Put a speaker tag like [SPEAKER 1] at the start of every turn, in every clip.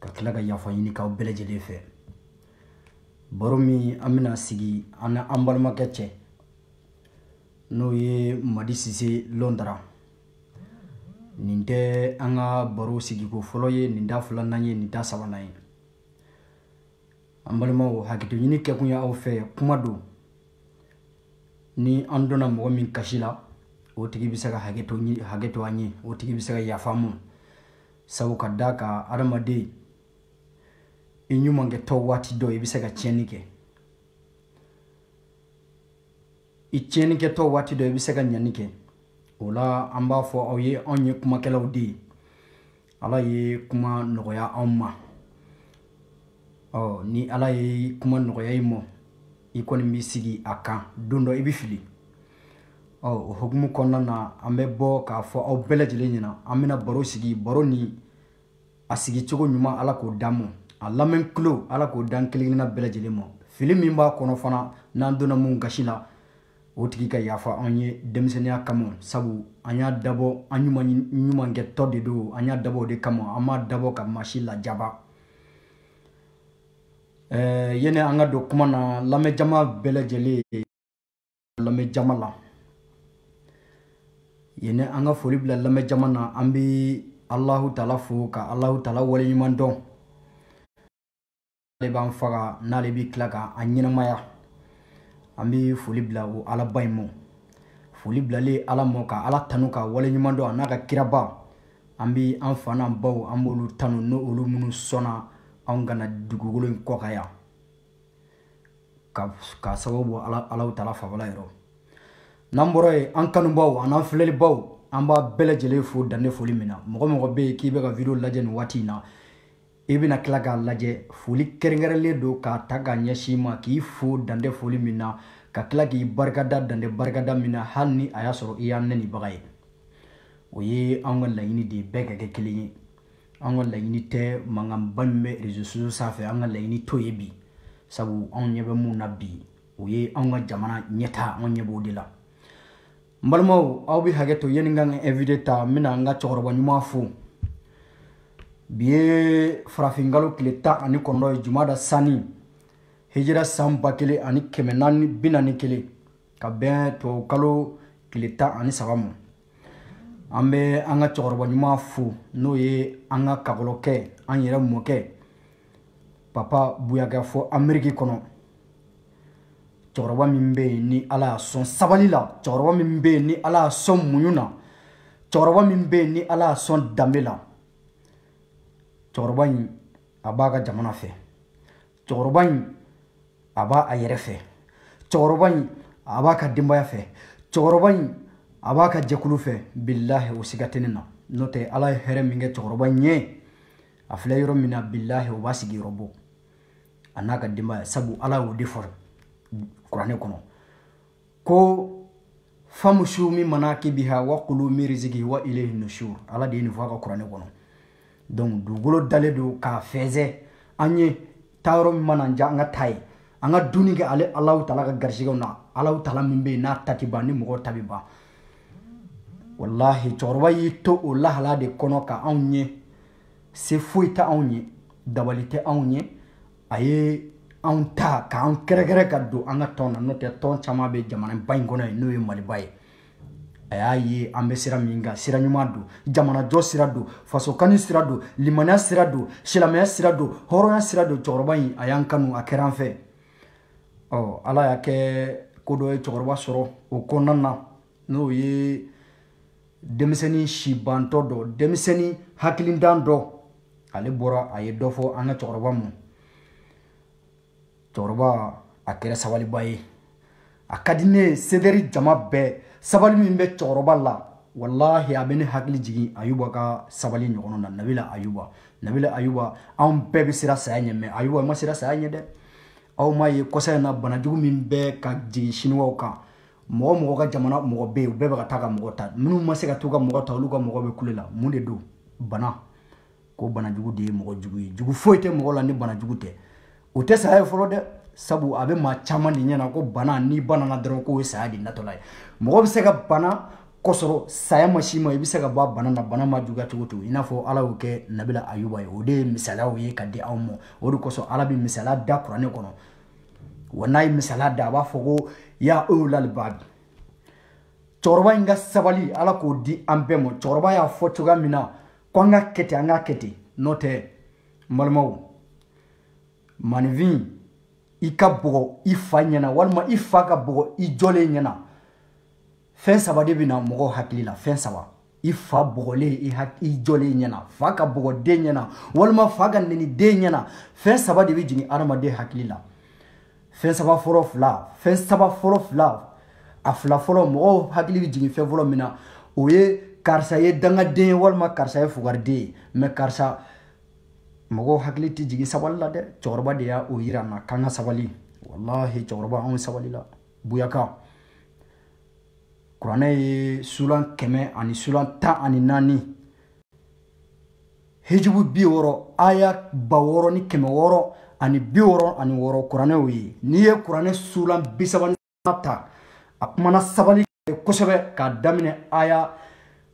[SPEAKER 1] ka tila ka yafa ɲini k'aw bɛɛ lajɛlen fɛ baro min an bɛna sigi an na an balimakɛ cɛ n'o ye madi sise lɔndara nin tɛ an ka baro sigiko fɔlɔ ye nin t'a filanan ye nin t'a sabanan ye an balimaw hakɛto ɲini kɛkun ye aw fɛ kuma don ni an donna mɔgɔ min gasi la o tigi bɛ se ka hakɛ to an ye o tigi bɛ se ka yafa an ma sabu ka d'a kan adamaden i ɲumankɛtɔ waati dɔ i bɛ se ka tiɲɛni kɛ i tiɲɛnikɛtɔ waati dɔ i bɛ se ka ɲani kɛ o la an b'a fɔ aw ye anw ye kumakɛlaw de ye ala ye kuma nɔgɔya anw ma ɔ ni ala ye kuma nɔgɔya i mɔ i kɔni b'i sigi a kan don dɔ i bɛ fili ɔ o hukumu kɔnɔna na an bɛ bɔ k'a fɔ aw bɛɛ lajɛlen ɲɛna an bɛna baro sigi baro ni a sigicogo ɲuman ala k'o d'an mɔ a lamɛn kulo ala k'o d'an kelen kelenna bɛɛ lajɛlen ma fili min b'a kɔnɔ fana n'an donna mun gasi la o tigi ka yafa an ye denmisɛnninya kama sabu an y'a dabɔ an ɲumankɛtɔ de don an y'a dabɔ o de kama an m'a dabɔ ka maa si lajaba ɛɛ yene an ka don kuma na lamɛnjama bɛɛ lajɛlen lamɛnjama la yene an ka foli bila lamɛnjama na an bɛ alahu taala fo ka alahu taala waleɲuman dɔn ale b'an faga n'ale bɛ tila ka an ɲɛnamaya an bɛ foli bila o alaba in ma foli bilalen ala mɔ ka ala tanu k'a waleɲuman dɔn a n'a ka kiraba an bɛ an fa n'an baw an b'olu tanu n'olu minnu sɔnna anw ka na dugukolo in kɔ kan yan ka sababu bɔ alahu taala fabala yɔrɔ n'an bɔra yen an kanubaw an'an filɛlibaw an b'a bɛɛ lajɛlen fo dan tɛ foli min na mɔgɔ mɔgɔ bɛ yen k'i bɛ ka video lajɛ nin waati in na i e bɛna tila k'a lajɛ foli kɛrɛnkɛrɛnlen don k'a ta k'a ɲɛsin i ma k'i fo dan tɛ foli min na ka tila k'i barikada dan tɛ barikada min na hali ni a y'a sɔrɔ i y'an nɛnibaga ye o ye an ka laɲini de ye bɛɛ ka kɛ kelen ye an ka laɲini tɛ mankanba min bɛ réseaux sociaux sanfɛ an ka laɲini t'o ye bi sabu anw ɲɛ bɛ mun na bi o ye anw ka jamana ɲɛtaa anw ɲɛ b'o de la n balimaw aw bɛ hakɛ to yanni n ka n ka invité ta n bɛna n ka cɛkɔrɔba ɲuman fo bi ye farafinkalo tile tan ani kɔnɔntɔn ye jumada sani hijira san ba kelen ani kɛmɛ naani bi naani kelen ka bɛn tubabukalo tile tan ani saba ma an bɛ an ka cɛkɔrɔba ɲuman fo n'o ye an ka kakɔlɔkɛ an yɛrɛ mɔkɛ papa buyakɛ fɔ ameriki kɔnɔ cɛkɔrɔba min bɛ yen ni ala y'a sɔn sabali la cɛkɔrɔba min bɛ yen ni ala y'a sɔn muɲu na cɛkɔrɔba min bɛ yen ni ala y'a sɔn danbe la cɛkɔrɔba in a b'a ka jamana fɛ cɛkɔrɔba in a b'a yɛrɛ fɛ cɛkɔrɔba in a b'a ka denbaya fɛ cɛkɔrɔba in a b'a ka jɛkulu fɛ bilahi o siga tɛ ne na n'o tɛ ala ye hɛrɛ min kɛ cɛkɔrɔba in ye a filɛ yɔrɔ min na bilahi o b'a sigiyɔrɔ bɔ a n'a ka denbaya sabu ala y'o de fɔ kuranɛ kɔnɔ ko famusu min manakibiha wa kulu min rizkihi wa ilayhi nushur ala de ye nin fɔ a ka kuranɛ kɔnɔ donc dugukolo dalen don k'a fɛnsɛ an ye taa yɔrɔ min mana diya an ka taa yen an ka dunni kɛ ale alahu taala ka garisigɛw na alahu taala min bɛ yen n'a ta ti ban ni mɔgɔw ta bɛ ban walahi cɛkɔrɔba y'i to o lahala de kɔnɔ ka anw ye se foyi tɛ anw ye dabali tɛ anw ye a ye anw ta k'an kɛrɛkɛrɛ ka don an ka tɔn na n'o tɛ tɔn caman bɛ jamanaba in kɔnɔ yen n'o ye maliba ye a y'a ye an bɛ sira min kan sira ɲuman don jamanajɔ sira don fasokani sira don limaniya sira don silamɛya sira don hɔrɔnya sira don cɛkɔrɔba in a y'an kanu a kɛra an fɛ ɔ ala y'a kɛ ko dɔ ye cɛkɔrɔba sɔrɔ o kɔnɔna na n'o ye denmisɛnnin sibantɔ dɔ denmisɛnnin hakilintan dɔ ale bɔra a ye dɔ fɔ an ka cɛkɔrɔba ma cɛkɔrɔba a kɛra sabaliba ye a ka di ne ye c'est-à-dire jama bɛɛ sabali min bɛ cɛkɔrɔba la walahi a bɛ ne hakili jigin ayuba ka sabali ɲɔgɔn na nabila ayuba nabila ayuba anw bɛɛ bɛ siran saya ɲɛ mais ayuba ma siran saya ɲɛ dɛ aw m'a ye kɔsa in na banajugu min bɛ ka jigin siniwaw kan mɔgɔ mɔgɔ ka jamana mɔgɔ bɛ yen u bɛɛ bɛ ka taa ka mɔgɔ ta minnu ma se ka t'u ka mɔgɔ ta olu ka mɔgɔ bɛ kule la mun de don bana ko bana jugu de ye mɔgɔ jugu ye jugu foyi tɛ mɔgɔ la ni bana jugu tɛ o tɛ saya ye fɔlɔ dɛ sabu a bɛ maa caman de ɲɛna ko bana n'i banana dɔrɔn k'o ye saya de natɔla ye mɔgɔ bɛ se ka bana k'a sɔrɔ saya ma s'i ma i bɛ se ka bɔ a bana na bana ma juguya cogo o cogo i n'a fɔ ala y'o kɛ nabila ayuba ye o de ye misaliyaw ye ka di anw ma o de kosɔn ala bɛ misaliya da kuranɛ kɔnɔ wa n'a ye misaliya da a b'a fɔ ko ya ulil albab cɛkɔrɔba in ka sabali ala k'o di an bɛɛ ma cɛkɔrɔba y'a fɔ cogoya min na ko an ka kɛ ten an ka kɛ ten n'o tɛ n balimaw maaninfin i ka bugɔ i fa ɲɛna walima i fa ka bugɔ i jɔlen ɲɛna fɛn saba de bɛ na mɔgɔw hakili la fɛn saba i fa bugɔlen i i jɔlen ɲɛna fa ka bugɔ den ɲɛna walima fa ka neni den ɲɛna fɛn saba de bɛ jigin adamaden hakili la fɛn saba fɔlɔ fila fɛn saba fɔlɔ fila a fila fɔlɔ mɔgɔw hakili bɛ jigin fɛn fɔlɔ min na o ye karisa ye dangaden ye walima karisa ye fugariden ye mɛ karisa mɔgɔw hakili tɛ jigin sabali la dɛ cɛkɔrɔba de y'o yira an na k'an ka sabali walahi cɛkɔrɔba anw sabali la buyaka kuranɛ ye sulan kɛmɛ ani sulan tan ani naani hijibu bi wɔɔrɔ aya ba wɔɔrɔ ni kɛmɛ wɔɔrɔ ani bi wɔɔrɔ ani wɔɔrɔ kuranɛ y'o ye n'i ye kuranɛ sulan bi saba ni ta a kumana sabali kosɛbɛ k'a daminɛ aya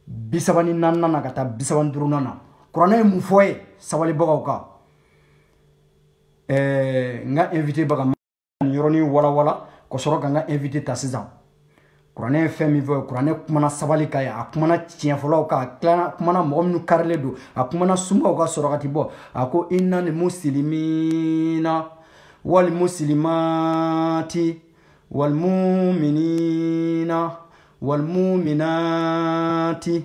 [SPEAKER 1] bi saba ni naaninan na ka taa bi saba ni duurunan na kuranɛ ye mun fɔ ye sabalibagaw kan ɛɛ n ka invité baga nin yɔrɔnin walawala ka sɔrɔ ka n ka invité ta sisan kuranɛ ye fɛn min fɔ kuranɛ kumana sabali kan ye a kumana tiɲɛfɔlaw kan a tilana a kumana mɔgɔ minnu karilen don a kumana sunbaw ka sɔrɔ ka ti bɔ a ko inali musilimina wali musilimati wali muminina wali muminati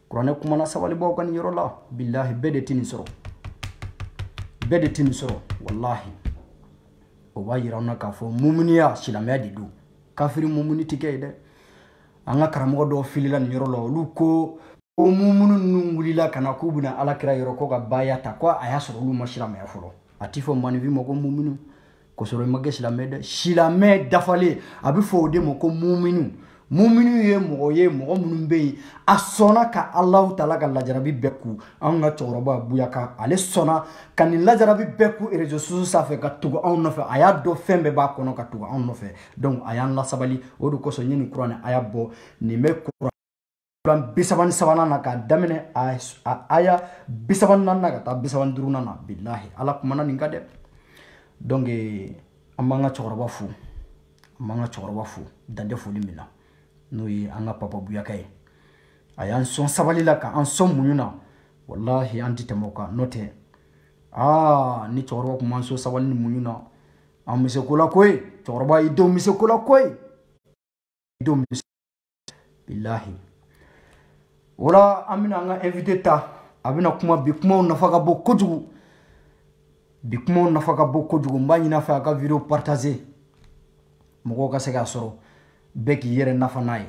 [SPEAKER 1] kuranɛ kumana sabalibaaw kan nin yɔrɔ la bilahi bɛɛ de tɛ nin sɔrɔ bɛɛ de tɛ nin sɔrɔ walahi o b'a yira anw na k'a fɔ mumuniya silamɛya de don kafiri mumuni tɛ kɛ ye dɛ an ka karamɔgɔ dɔw filila nin yɔrɔ la olu ko ko mumunu ninnu wulila ka na k'u bɛna ala kira yɔrɔ ko ka baaya ta ko a y'a sɔrɔ olu ma silamɛya fɔlɔ a ti fɔ maninfin ma ko mumunu k'o sɔrɔ i ma kɛ silamɛ dɛ silamɛ dafalen a bɛ fɔ o de ma ko muminu muminu ye mɔgɔ ye mɔgɔ minnu bɛ yen a sɔnna ka alahu taala ka lajarabi bɛɛ kun anw ka cɛkɔrɔba buyaka ale sɔnna ka nin lajarabi bɛɛ kun réseaux sociaux sanfɛ ka tugu anw nɔfɛ a y'a dɔn fɛn bɛɛ b'a kɔnɔ ka tugu anw nɔfɛ donc a y'an lasabali o de kosɔn n ye nin kuranɛ aya bɔ nin bɛ kuran kuran bi saba ni sabanan na k'a daminɛ a aya bi saba ni naani na ka taa bi saba ni duurunan na bilahi ala kumana nin kan dɛ donc an b'an ka cɛkɔrɔba fo an b'an ka cɛkɔrɔba fo dan tɛ foli min na n'o ye an ka papa buyaka ye a y'an sɔn sabali la k'an sɔn muɲu na walahi an ti tɛmɛ o kan n'o tɛ aa ni cɛkɔrɔba tun m'an sɔn sabali ni muɲu na an bɛ se ko la koyi cɛkɔrɔba i denw bɛ se ko la koyi i denw bɛ se bilahi o la an bɛna an ka invité ta a bɛna kuma bi kumaw nafa ka bon kojugu bi kumaw nafa ka bon kojugu n b'a ɲin'a fɛ a ka video partager mɔgɔw ka se k'a sɔrɔ bɛɛ k'i yɛrɛ nafa n'a ye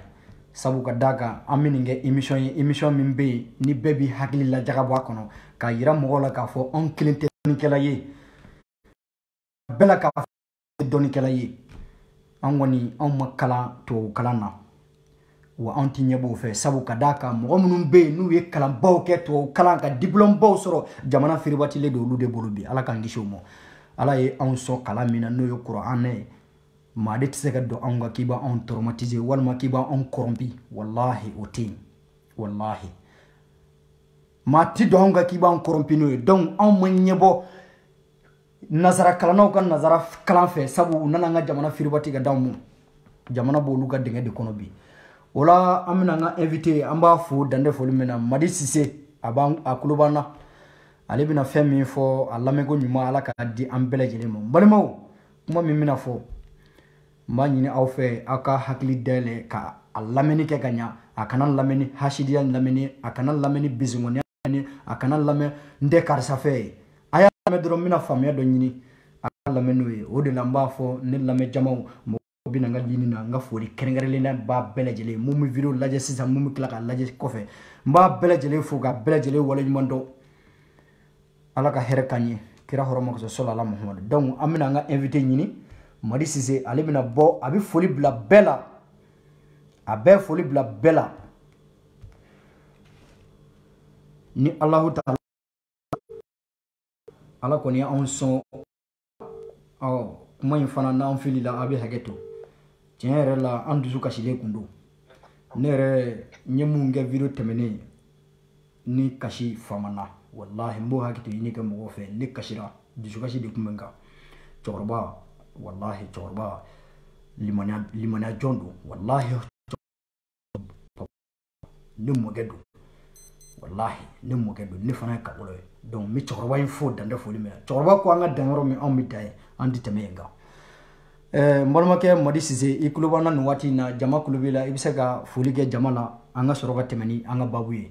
[SPEAKER 1] sabu ka d'a kan an bɛ nin kɛ émission ye émission min bɛ yen ni bɛɛ b'i hakili lajagabɔ a kɔnɔ k'a yira mɔgɔw la k'a fɔ anw kelen tɛ dɔnnikɛla ye bɛɛ la k'a dɔnnikɛla ye an kɔni anw ma kalan tubabu kalan na wa anw ti ɲɛbɔ o fɛ sabu ka d'a kan mɔgɔ minnu bɛ yen n'u ye kalanbaw kɛ tubabu kalan ka diplɔmbaw sɔrɔ jamana firibatilen don olu de bolo bi ala k'an kisi o ma ala ye anw sɔn kalan min na n'o ye kuranɛ ye maa de tɛ se ka don anw ka k'i b'anw traumatiser walima k'i b'anw kɔrɔnpi walahi o tɛ yen walahi maa ti don anw ka k'i b'an kɔrɔnpi non donc anw ma ɲɛbɔ nazara kalannaw ka nazara kalan fɛ sabu u nana an ka jamana firibati ka d'anw ma jamana b'olu ka dingɛ de kɔnɔ bi o la an bɛna an ka invité an b'a fo dan tɛ foli min na madi sise a b'an a kulo b'an na ale bɛna fɛn min fɔ a lamɛnko ɲuman ala k'a di an bɛɛ lajɛlen ma n balimaw kuma min bɛna fɔ n b'a ɲini aw fɛ aw ka hakili dayɛlɛ ka a lamɛnni kɛ ka ɲa a kana lamɛnni hasidiya lamɛnni a kana lamɛnni bisimilaniya lamɛn a kana lamɛn n tɛ karisa fɛ ye a y'a lamɛn dɔrɔn n bɛna faamuya dɔ ɲini a ka lamɛn n'o ye o de la n b'a fɔ ne lamɛn jamaw mɔgɔw bɛna n ka ligne na n ka foli kɛrɛnkɛrɛnlen b'a bɛɛ lajɛlen mun bɛ video lajɛ sisan mun bɛ tila k'a lajɛ kɔfɛ n b'a bɛɛ lajɛlen fo k'a bɛɛ lajɛlen waleɲuman dɔn ala ka hɛrɛ k'an ye kira hɔrɔma kosɔn sɔlɔ ala muhamadu donc an bɛna an ka invité ɲini madi sise ale bɛna bɔ a bɛ foli bila bɛɛ la a bɛɛ foli bila bɛɛ la ni alahu taala ala kɔni y'anw sɔn ɔ kuma in fana n'an filila a bɛ hakɛto tiɲɛ yɛrɛ la an dusu kasilen kun don ne yɛrɛ n ye mun kɛ video tɛmɛnen ne kasi famana walahi n b'o hakɛto ɲini kɛ mɔgɔw fɛ ne kasira dusukasi de tun bɛ n kan cɛkɔrɔba walahi cɛkɔrɔba limaniya jɔn don walahi ne mɔkɛ don walahi ne mɔkɛ don ne fana ye kagolo ye donc n bɛ cɛkɔrɔba in fo dan tɛ foli min na cɛkɔrɔba ko an ka dan yɔrɔ min anw bɛ dan yen an tɛ tɛmɛ yen kan n balimakɛ madi sise i tulo b'an na nin waati in na jama tulo b'i la i bɛ se ka foli kɛ jama la an ka sɔrɔ ka tɛmɛ ni an ka baabu ye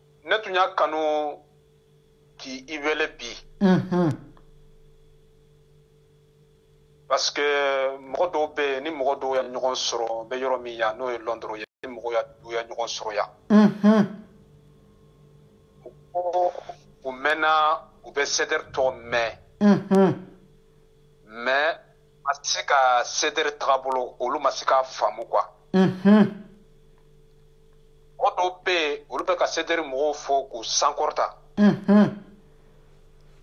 [SPEAKER 2] ne tun y'a kanu k'i i wele bi parce que mɔgɔ dɔw bɛ yen ni mɔgɔ dɔw ye ɲɔgɔn sɔrɔ bɛ yɔrɔ min yan n'o ye Londres ye ni mɔgɔ dɔw ye ɲɔgɔn sɔrɔ yan ko u mɛnna u bɛ CDR tɔgɔ mɛn mais ma se ka CDR tagabolo olu ma se k'a faamu quoi mɔgɔ dɔw bɛ yen olu bɛ ka CDR mɔgɔw fo k'u sankɔrɔta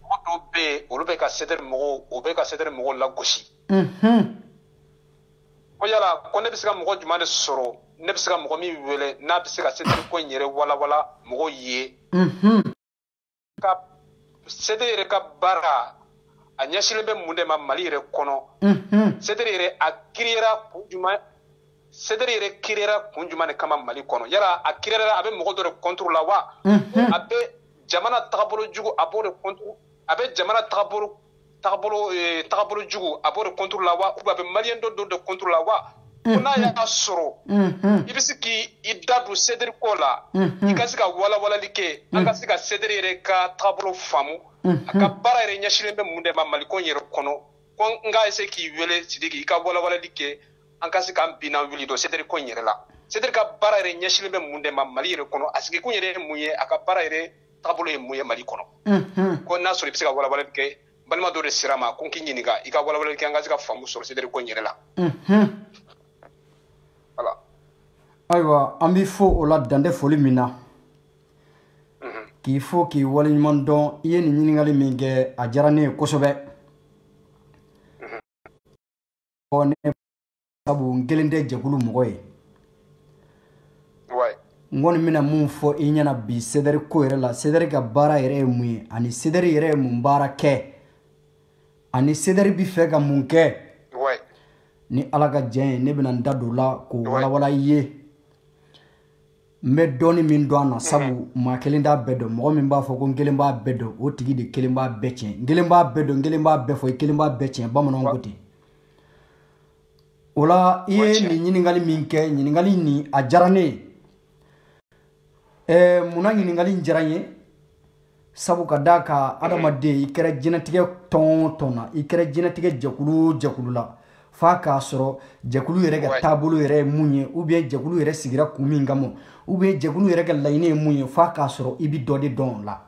[SPEAKER 2] mɔgɔ dɔw bɛ yen olu bɛ ka CDR mɔgɔw o bɛ ka CDR mɔgɔw lagosi ko yala ko ne bɛ se ka mɔgɔ jumɛn de sɔrɔ ne bɛ se ka mɔgɔ min wele n'a bɛ se ka CDR ko in yɛrɛ walawala mɔgɔw ye ka CDR yɛrɛ ka baara a ɲɛsilen bɛ mun de ma mali yɛrɛ kɔnɔ CDR yɛrɛ a kiriyera kun jumɛn CDR yɛrɛ kiriyera kun jumɛn de kama mali kɔnɔ yala a kiriyera a bɛ mɔgɔ dɔ de contre la wa a bɛ jamana tagabolo jugu a b'o de contre a bɛ jamana tagabolo tagabolo eh, tagabolo jugu a b'o de contre la wa ou bien a bɛ maliyɛn dɔ dɔ de contre la wa ko n'a y'a sɔrɔ i bɛ se k'i da don CDR ko la i ka se ka walawalali kɛ an ka se ka CDR yɛrɛ ka tagabolo faamu a ka baara yɛrɛ ɲɛsilen bɛ mun de ma maliko in yɛrɛ kɔnɔ ko n ka essayer k'i wele sidiki i ka walawalali kɛ an ka se k'an binna wuli dɔ CDR ko in yɛrɛ la CDR ka baara yɛrɛ ɲɛsilen bɛ mun de ma mali yɛrɛ kɔnɔ a sigikun yɛrɛ ye mun ye a ka baara yɛrɛ taabolo ye mun ye mali kɔnɔ mhm. ko n'a sɔrɔ i bɛ se ka walawalali kɛ balima dɔ de sera n ma ko n k'i ɲininka i ka walawalali kɛ an ka se ka faamu sɔrɔ CDR ko in yɛrɛ la mhm. voilà ayiwa
[SPEAKER 1] an b'i fo o la dan tɛ foli min na mhm. k'i fo k'i waleɲuman dɔn i ye nin ɲininkali min kɛ a diyara ne ye kosɛbɛ sabu n kelen tɛ jɛkulu mɔgɔ ye n kɔni bɛna mun fɔ i ɲɛna bi CDR ko yɛrɛ la CDR ka baara yɛrɛ ye mun ye ani CDR yɛrɛ ye mun baara kɛ ani CDR bɛ fɛ ka mun kɛ ni ala ka jɛn ye ne bɛna n da don o la k'o walawala i ye n bɛ dɔɔni min dɔn a na sabu maa kelen t'a bɛɛ dɔn mɔgɔ min b'a fɔ ko n kelen b'a bɛɛ dɔn o tigi de kelen b'a bɛɛ tiɲɛ n kelen b'a bɛɛ dɔn n kelen b'a bɛɛ fɔ i kelen b'a bɛɛ tiɲɛ bamananw ko ten o la i ye nin ɲininkali min kɛ ɲininkali nin a diyara ne ye ɛɛ mun na ɲininkali in diyara n ye sabu ka d'a kan adamaden i kɛra jɛnɛtigɛ tɔn o tɔn na i kɛra jɛnɛtigɛ jɛkulu o jɛkulu la f'a k'a sɔrɔ jɛkulu yɛrɛ ka taabolo yɛrɛ ye mun ye ou bien jɛkulu yɛrɛ sigira kun min kama ou bien jɛkulu yɛrɛ ka laɲini ye mun ye f'a k'a sɔrɔ i bi dɔ de dɔn o la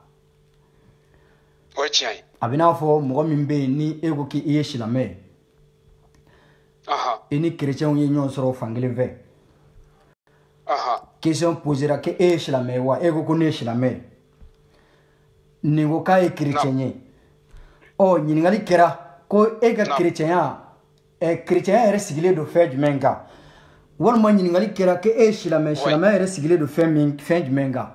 [SPEAKER 2] o ye tiɲɛ ye a bɛ n'a fɔ mɔgɔ
[SPEAKER 1] min bɛ yen ni e ko k'i ye silamɛ ye i ni kerecɛnw ye ɲɔgɔn sɔrɔ fan kelen fɛ question posera ko e ye silamɛ ye wa e ko ko ne ye silamɛ ye nin ko k'a ye kerecɛn ye ɔ ɲininkali kɛra ko e ka kerecɛnya ɛ kerecɛnya yɛrɛ sigilen don fɛn jumɛn kan walima ɲininkali kɛra ko e ye silamɛ silamɛya yɛrɛ sigilen don fɛn min fɛn jumɛn kan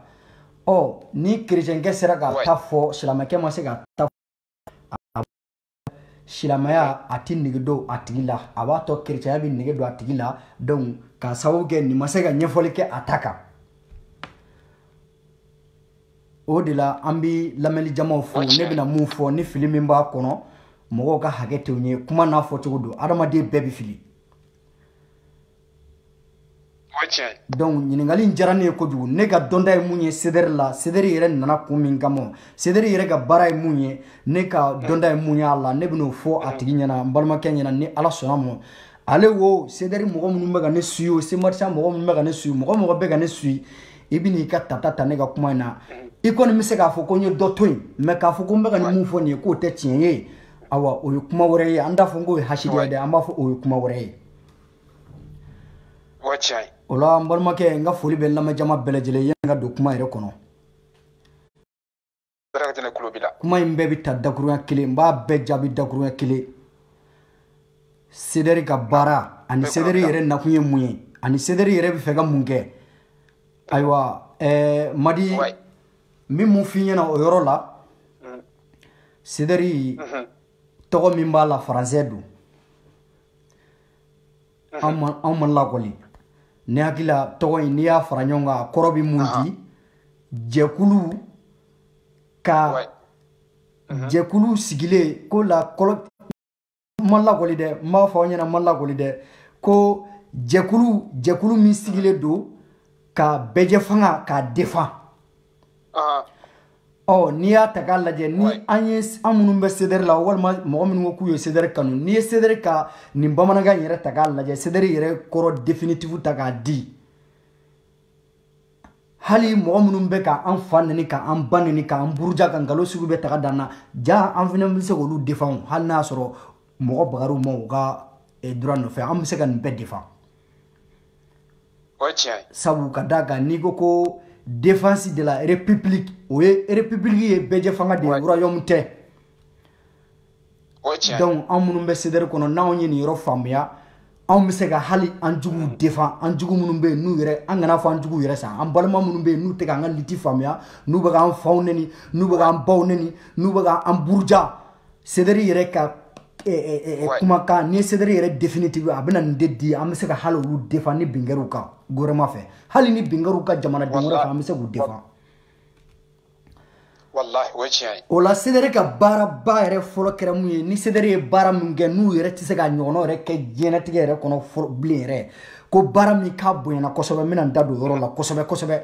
[SPEAKER 1] ɔ ni kerecɛnkɛ sera k'a ta fɔ silamɛkɛ ma se k'a ta fɔ silamɛya a ti nege don a tigi la a b'a to kerecɛnya bɛ nege don a tigi la donc k'a sababu kɛ nin ma se ka ɲɛfɔli kɛ a ta kan o de la an bɛ lamɛnni jamaw fo ne bɛna mun fɔ ni fili min b'a kɔnɔ mɔgɔw ka hakɛ to n ye kuma n'a fɔcogo don adamaden bɛɛ bɛ fili donc ɲininkali in diyara ne ye kojugu ne ka dɔnta ye mun ye sedɛri la sedɛri yɛrɛ nana kun min kama sedɛri yɛrɛ ka baara ye mun ye ne ka dɔnta ye mun y'a la ne bɛn'o fɔ a tigi ɲɛna n balimakɛ ɲɛna ni ala sɔnna a ma ale wo sedɛri mɔgɔ minnu bɛ ka ne suyi o semarisa mɔgɔ minnu bɛ ka ne suyi mɔgɔ mɔgɔ bɛ ka ne suyi i bɛn'i ka tata ta ne ka kuma in na i kɔni bɛ se k'a fɔ ko n ye dɔ to yen mais k'a fɔ ko n bɛ ka nin mun fɔ nin ye k'o tɛ tiɲɛ ye awa o ye kuma wɛrɛ ye an t'a fɔ k'o ye hasidiya ye dɛ an b'a fɔ o ye kuma wɛrɛ ye o la n balimakɛ n ka foli bɛ lamɛnjama bɛɛ lajɛlen yanni n ka don kuma yɛrɛ kɔnɔ Darakajɛnɛ tulo b'i la. Kuma in bɛɛ bɛ ta dakuruya kelen n b'a bɛɛ jaabi dakuruya kelen Sedɛri ka baara ani Sedɛri yɛrɛ nakun ye mun ye ani Sedɛri yɛrɛ bɛ fɛ ka mun kɛ ayiwa ɛɛ Madi n bɛ mun f'i ɲɛna o yɔrɔ la Sedɛri tɔgɔ min b'a la faransɛ don. anw ma lakɔli ne hakili la tɔgɔ in n'i y'a fara ɲɔgɔn kan a kɔrɔ bɛ mun di jɛkulu ka jɛkulu sigilen ko la kɔlɔ n ma lakɔli dɛ n b'a fɔ aw ɲɛna n ma lakɔli dɛ ko jɛkulu jɛkulu min sigilen don ka bɛɛjɛ fanga k'a defan ɔ n'i y'a ta k'a lajɛ ni an ye an minnu bɛ sedɛri la walima mɔgɔ minnu ko k'u ye sedɛri kanu n'i ye sedɛri ka nin bamanankan yɛrɛ ta k'a lajɛ sedɛri yɛrɛ kɔrɔ definitifu ta k'a di hali mɔgɔ minnu bɛ ka an fa neni ka an ba neni ka an buruja ka nkalon sugu bɛɛ ta k'a d'an na jaa an fana bɛ se k'olu defan hali n'a y'a sɔrɔ mɔgɔ bagar'u ma u ka droit nɔfɛ an bɛ se ka nin bɛɛ defan sabu ka d'a kan n'i ko ko défense de la république o ye république ye bɛɛjɛ fanga de ye royaume tɛ donc anw minnu bɛ sedɛri kɔnɔ n'anw ye nin yɔrɔ faamuya anw bɛ se ka hali an juguw mm. defan an jugu minnu bɛ yen n'u yɛrɛ an kan'a fɔ an juguw yɛrɛ sa an balima minnu bɛ yen n'u tɛ k'an ka lutte faamuya n'u bɛ k'an faw neni n'u bɛ k'an baw neni n'u bɛ k'an buruja Sedɛri yɛrɛ ka eh, eh, eh, eh, Ouais. kumakan ni sedɛri yɛrɛ définitive a bɛna nin de di an bɛ se ka hali olu defan ni bin kɛr'u kan gouvernement fɛ hali ni bin kɛr'u kan jamanaden wɛrɛ Wala- fɛ an bɛ se k'u defan walahi o ye tiɲɛ ye o la sedɛri ka baaraba yɛrɛ fɔlɔ kɛra mun ye ni sedɛri ye baara min kɛ n'u yɛrɛ tɛ se k'a ɲɔgɔnna yɛrɛ kɛ diɲɛnatigɛ yɛrɛ kɔnɔ fɔlɔ bilen yɛrɛ ko baara min k'a bonyana kosɛbɛ n bɛna n da don o yɔrɔ la kosɛbɛ kosɛbɛ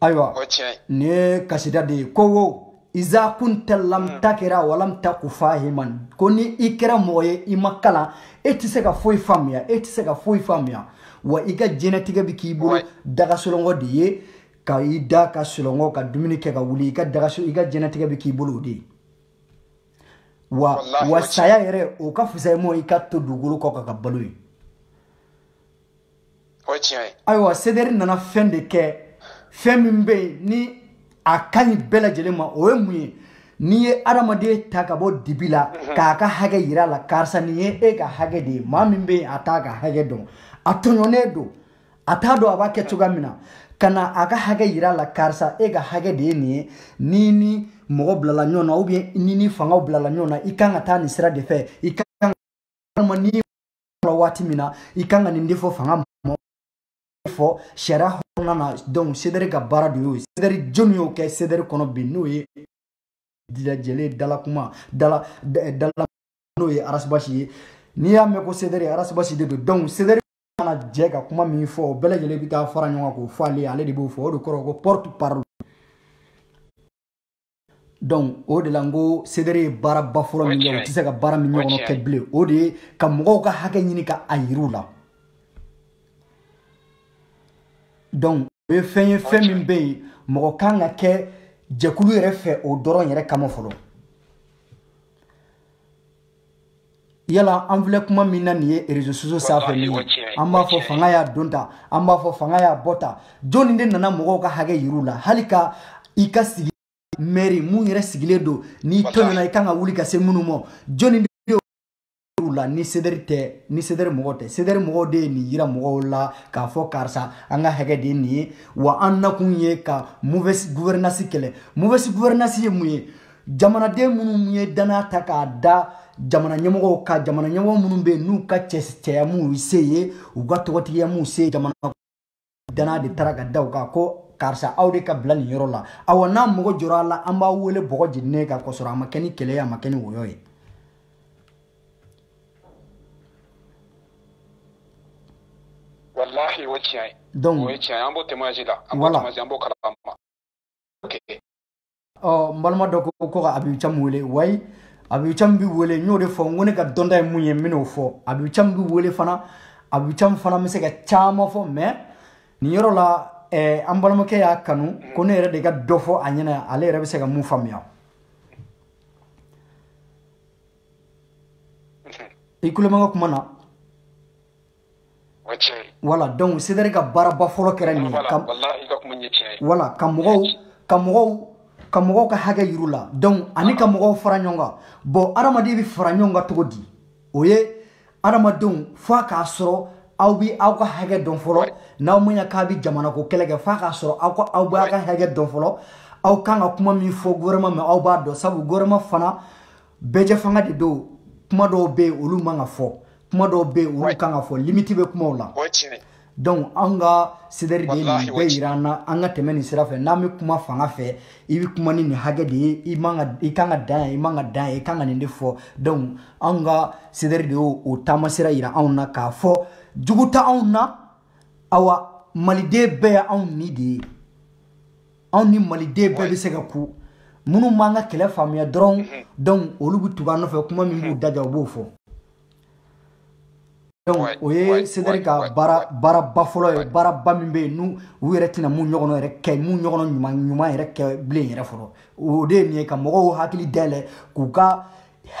[SPEAKER 1] ayiwa nin ye kasida de ye ko wo iza kunta lam takira walam taku fahiman ko ni i kɛra mɔgɔ ye i ma kalan e tɛ se ka foyi faamuya e tɛ se ka foyi faamuya wa i ka diɲɛnatigɛ bɛ k'i bolo da ka sunɔgɔ de ye ka i da ka sunɔgɔ ka dumuni kɛ ka wuli i ka dagaso i ka diɲɛnatigɛ bɛ k'i bolo o de ye wa wa saya yɛrɛ o ka fisa i ma i ka to dugukolo kɔ ka ka balo ye o ye tiɲɛ ye ayiwa CDR nana fɛn de kɛ fɛn min bɛ yen ni a ka ɲi bɛɛ lajɛlen ma o ye mun ye n'i ye adamaden ta ka bɔ dibi la mhm. k'a ka hakɛ yira a la karisa nin ye e ka hakɛ de ye maa min bɛ yen a t'a ka hakɛ dɔn a tɔɲɔnen don a t'a dɔn a b'a kɛ mhm. cogoya min na ka na a ka hakɛ yira a la karisa e ka hakɛ de ye nin ye ni ni mɔgɔ bilala ɲɔgɔn na ou bien ni ni fangaw bilala ɲɔgɔn na i kan ka taa nin sira de fɛ i kan ka walima ni la waati min na i kan ka nin de fɔ fanga ma fɔ sariya kɔnɔna na donc CDR ka baara de y'o ye CDR jɔni y'o kɛ CDR kɔnɔ bi n'o ye bɛɛ lajɛlen dalakuma dala dala n'o ye arasibasi ye n'i y'a mɛn ko CDR arasibasi de don donc CDR mana jɛ ka kuma min fɔ o bɛɛ lajɛlen bɛ taa fara ɲɔgɔn kan k'o fɔ ale ale de b'o fɔ o de kɔrɔ ko porte parole donc o de la n ko CDR ye baaraba fɔlɔ min kɛ u tɛ se ka baara min ɲɔgɔn kɛ bilen o de ye ka mɔgɔw ka hakɛ ɲini ka a yir'u la donc o ye fɛn ye fɛn min bɛ yen mɔgɔ kan ka kɛ jɛkulu yɛrɛ fɛ o dɔrɔn yɛrɛ kama fɔlɔ yala an filɛ kuma min na nin ye réseaux sociaux sanfɛ nin ye an b'a fɔ fanga y'a don ta an b'a fɔ fanga y'a bɔ ta jɔnni de nana mɔgɔw ka hakɛ yir'u la hali ka i ka sigi mairie mun yɛrɛ sigilen don n'i tɔɲɔna i kan ka wuli ka se minnu ma jɔnni u la ni CDR tɛ ni CDR mɔgɔ tɛ CDR mɔgɔw de ye nin yira mɔgɔw la k'a fɔ karisa an ka hakɛ de ye nin ye wa an nakun ye ka mauvaise gouvernance kɛlɛ mauvaise gouvernance ye mun ye jamanaden minnu ye danaya ta k'a da jamana ɲɛmɔgɔw kan jamana ɲɛmɔgɔ minnu bɛ yen n'u ka cɛya m'u se yen u ka tɔgɔtigiya m'u se yen jamana danaya de taara ka da u kan ko karisa aw de ka bila nin yɔrɔ la awa n'an mago jɔra a la an b'aw wele bɔgɔ jeninen kan k'a sɔrɔ a ma kɛ ni kɛlɛ ye a ma kɛ ni wɔyɔ
[SPEAKER 2] ye walahi o tiɲɛ ye donc o ye tiɲɛ ye an b'o témoignage la an b'o témoignage an b'o kalama ok
[SPEAKER 1] ɔ n balima dɔ ko ko ka abibu cam wele wayi abibu cam bi wele n y'o de fɔ n ko ne ka dɔnta ye mun ye n bɛn'o fɔ abibu cam bi wele fana abibu cam fana bɛ se ka caman fɔ mais nin yɔrɔ la eh, an balimakɛ y'a kanu ko ne yɛrɛ de ka dɔ fɔ a ɲɛna ale yɛrɛ bɛ se ka mun faamuya i tulo bɛ n ka kuma na voilà donc CDR ka baaraba fɔlɔ kɛra nin ye voilà ka mɔgɔw ka mɔgɔw ka mɔgɔw ka hakɛ yir'u la donc ani ka mɔgɔw fara ɲɔgɔn kan bon adamaden bɛ fara ɲɔgɔn kan cogo di o ye adamadenw f'a k'a sɔrɔ aw bɛ aw ka hakɛ dɔn fɔlɔ n'aw ma ɲa k'a bɛ jamanako kɛlɛ kɛ f'a k'a sɔrɔ aw ka aw bɛ aw ka hakɛ dɔn fɔlɔ aw kan ka kuma min fɔ gouvernement ma aw b'a dɔn sabu gouvernement fana bɛɛjɛfanga de don kuma dɔw bɛ yen olu man ka fɔ kuma dɔw bɛ yen olu kan ka fɔ limite bɛ kumaw la donc an ka CDR de ye nin bɛɛ yira an na an ka tɛmɛ nin sira fɛ n'an bɛ kuma fanga fɛ i bɛ kuma ni nin hakɛ de ye i man ka i kan ka dan yan i man ka dan yan i kan ka nin de fɔ donc an ka CDR de y'o o taamasira yira anw na k'a fɔ jugu tɛ anw na awa maliden bɛɛ ye anw ni de ye anw ni maliden bɛɛ bɛ se ka kun minnu m'an ka kɛlɛ faamuya dɔrɔn mhm. donc olu bɛ tugu an nɔfɛ kuma min b'u mhm. daja u b'o fɔ donc o ye CDR ka baara baaraba fɔlɔ ye baaraba min bɛ yen n'u u yɛrɛ tɛna mun ɲɔgɔnna yɛrɛ kɛ mun ɲɔgɔnna ɲuman ɲuman yɛrɛ kɛ bilen yɛrɛ fɔlɔ o de ye nin ye ka mɔgɔw hakili dayɛlɛ k'u ka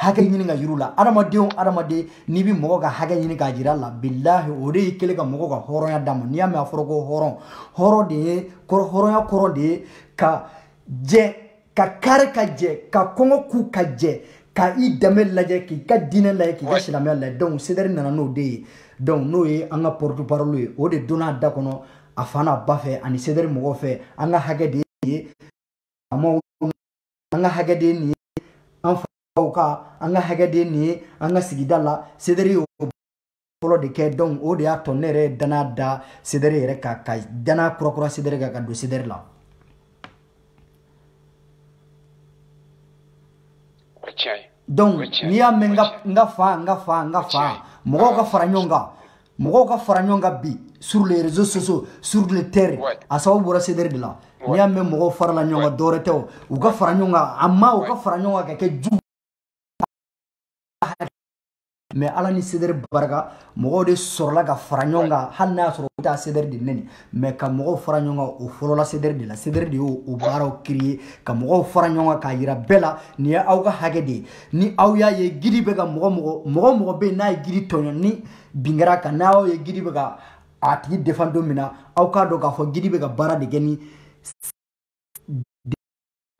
[SPEAKER 1] hakɛ ɲini ka yir'u la adamaden o adamaden n'i bɛ mɔgɔ ka hakɛ ɲini k'a jira a la bilahi o de y'i kɛlen ka mɔgɔ ka hɔrɔnya d'a ma n'i y'a mɛn a fɔra ko hɔrɔn hɔrɔn de ye hɔrɔnya kɔrɔ de ye ka jɛn ka kari ka jɛn ka kɔngɔ kun ka jɛn ka i danbe lajɛ k'i ka diinɛ lajɛ k'i ka silamɛya lajɛ donc CDR nana n'o de ye donc n'o ye an ka porte parole ye o de donna a da kɔnɔ a fa n'a ba fɛ ani CDR mɔgɔw fɛ an ka hakɛ de ye faamaw an ka hakɛ de ye nin ye an faw ka an ka hakɛ de ye nin ye an ka sigida la CDR y'o fɔlɔ de kɛ donc o de y'a to ne yɛrɛ ye dana da CDR yɛrɛ kan ka dana kurakura CDR kan ka don CDR la donc n'i y'a mɛn n ka fa n ka fa n ka fa mɔgɔw ka fara ɲɔgɔn kan mɔgɔw ka fara ɲɔgɔn kan bi sur les réseaux sociaux sur le terrain a sababu bɔra CDR de la n'i y'a mɛn mɔgɔw farala ɲɔgɔn kan dɔwɛrɛ tɛ o u ka fara ɲɔgɔn kan a ma u ka fara ɲɔgɔn kan ka kɛ jugu mais ala ni CDR barika mɔgɔw de sɔrɔla ka fara ɲɔgɔn kan hali n'a y'a sɔrɔ u bɛ taa CDR de nɛni mais ka mɔgɔw fara ɲɔgɔn kan o fɔlɔla CDR de la CDR de y'o o baaraw créer ka mɔgɔw fara ɲɔgɔn kan k'a yira bɛɛ la nin ye aw ka hakɛ de ye ni aw y'a ye guide bɛ ka mɔgɔ mɔgɔ mɔgɔ mɔgɔ bɛ yen n'a ye guide tɔɲɔ ni bin kɛra a kan n'aw y'a ye guide bɛ ka a tigi défend don min na aw k'a dɔn k'a fɔ guide bɛ ka baara de kɛ ni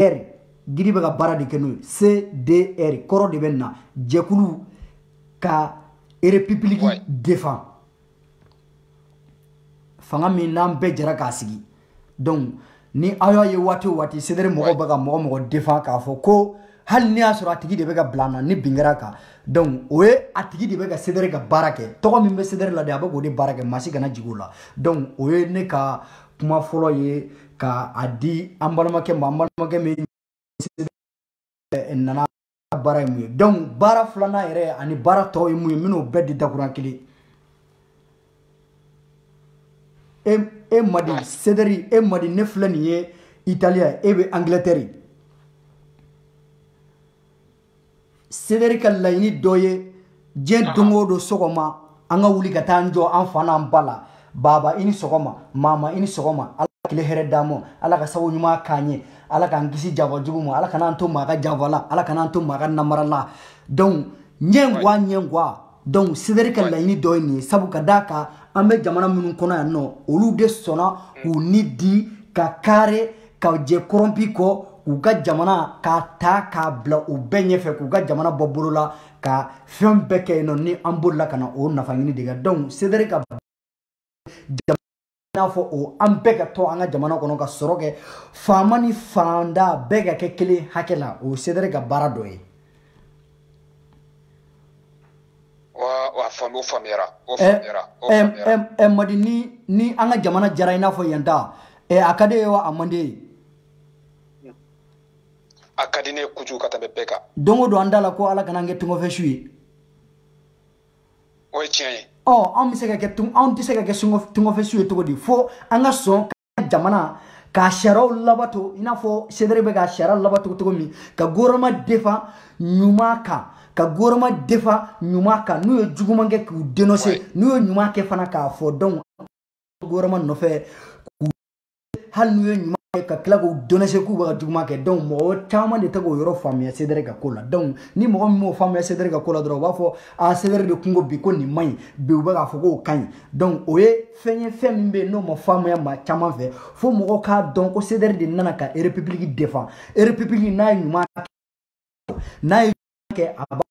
[SPEAKER 1] r giri bɛ ka baara de kɛ n'o ye cdr kɔrɔ de bɛ na jɛkulu ka erepipiliki Ouais. defan fanga min n'an bɛɛ jɛra k'a sigi donc ni aw y'a ye waati o waati sedere mɔgɔw bɛ ka mɔgɔ mɔgɔ defan k'a fɔ ko hali n'i y'a sɔrɔ a tigi de bɛ ka bila an na ni bin kɛra a kan donc o ye a tigi de bɛ ka sedere ka baara kɛ tɔgɔ min bɛ sedere la de a bɛ k'o de baara kɛ maa si kana jigin o la donc o ye ne ka kuma fɔlɔ ye k'a di an balimakɛ ma an balimakɛ min nana baara ye mun ye donc baara filanan yɛrɛ ani baara tɔw ye mun ye n bɛn'o bɛɛ di dakurun kelen e e madi sederi e madi ne filɛ nin ye italiya e bɛ angilɛtɛri sederi ka laɲini dɔ ye nin ye don o don sɔgɔma an ka wuli ka taa an jɔ an fa n'an ba la baba i ni sɔgɔma mama i ni sɔgɔma ala ka tile hɛrɛ d'an ma ala ka sago ɲuman k'an ye ala k'an kisi janfa jugu ma ala kan'an to maa ka janfa la ala kan'an to maa ka namara la donc ɲɛngoya ɲɛngoya donc sederi ka laɲini dɔ ye nin ye sabu ka d'a kan an bɛ jamana minnu kɔnɔ yan nɔ olu de sɔnna k'u ni di ka kari ka jɛ kɔrɔnpi kɔ k'u ka jamana k'a ta k'a bila u bɛɛ ɲɛfɛ k'u ka jamana bɔ bolo la ka fɛn bɛɛ kɛ yen nɔ ni an bolila ka na o nafa ɲini de kɛ donc sederi ka n'a fɔ o an bɛɛ ka to an ka jamana kɔnɔ ka sɔrɔ kɛ faama ni faantan bɛɛ ka kɛ kelen hakɛ la o sedere ka baara dɔ ye
[SPEAKER 2] faamu faamuyara o faamuyara o faamuyara ɛ
[SPEAKER 1] madi ni ni an ka jamana diyara i n'a fɔ yan ta ɛ a ka d'i ye wa a man d'i
[SPEAKER 2] ye a ka di ne ye kojugu ka tɛmɛ bɛɛ kan don o don an da la ko
[SPEAKER 1] ala kana n kɛ tungafɛ su ye
[SPEAKER 2] o ye tiɲɛ ye ɔ anw bɛ se ka
[SPEAKER 1] kɛ anw tɛ se ka kɛ tungafɛsu ye cogo di fo an ka sɔn ka jamana ka sariyaw labato i n'a fɔ sedere bɛ ka sariya labato cogo min ka goroma defan ɲuman kan ka goroma defan ɲuman kan n'u ye juguman kɛ k'u denose n'u ye ɲuman kɛ fana k'a fɔ donc goroma nɔfɛ hali n'u ye ɲuman kɛ ka tila k'u denose k'u bɛ ka juguman kɛ donc mɔgɔ caman de tɛ k'o yɔrɔ faamuya sedɛrɛ ka ko la donc ni mɔgɔ min m'o faamuya sedɛrɛ ka ko la dɔrɔn u b'a fɔ a sedɛrɛ de kungo bi ko nin man ɲi bi u bɛ k'a fɔ k'o ka ɲi donc o ye fɛn ye fɛn min bɛ yen n'o ma faamuya maa caman fɛ fo mɔgɔw k'a dɔn ko sedɛrɛ de nana ka erepipiliki defan erepipiliki n'a ye ɲuman n'a ye kɛ a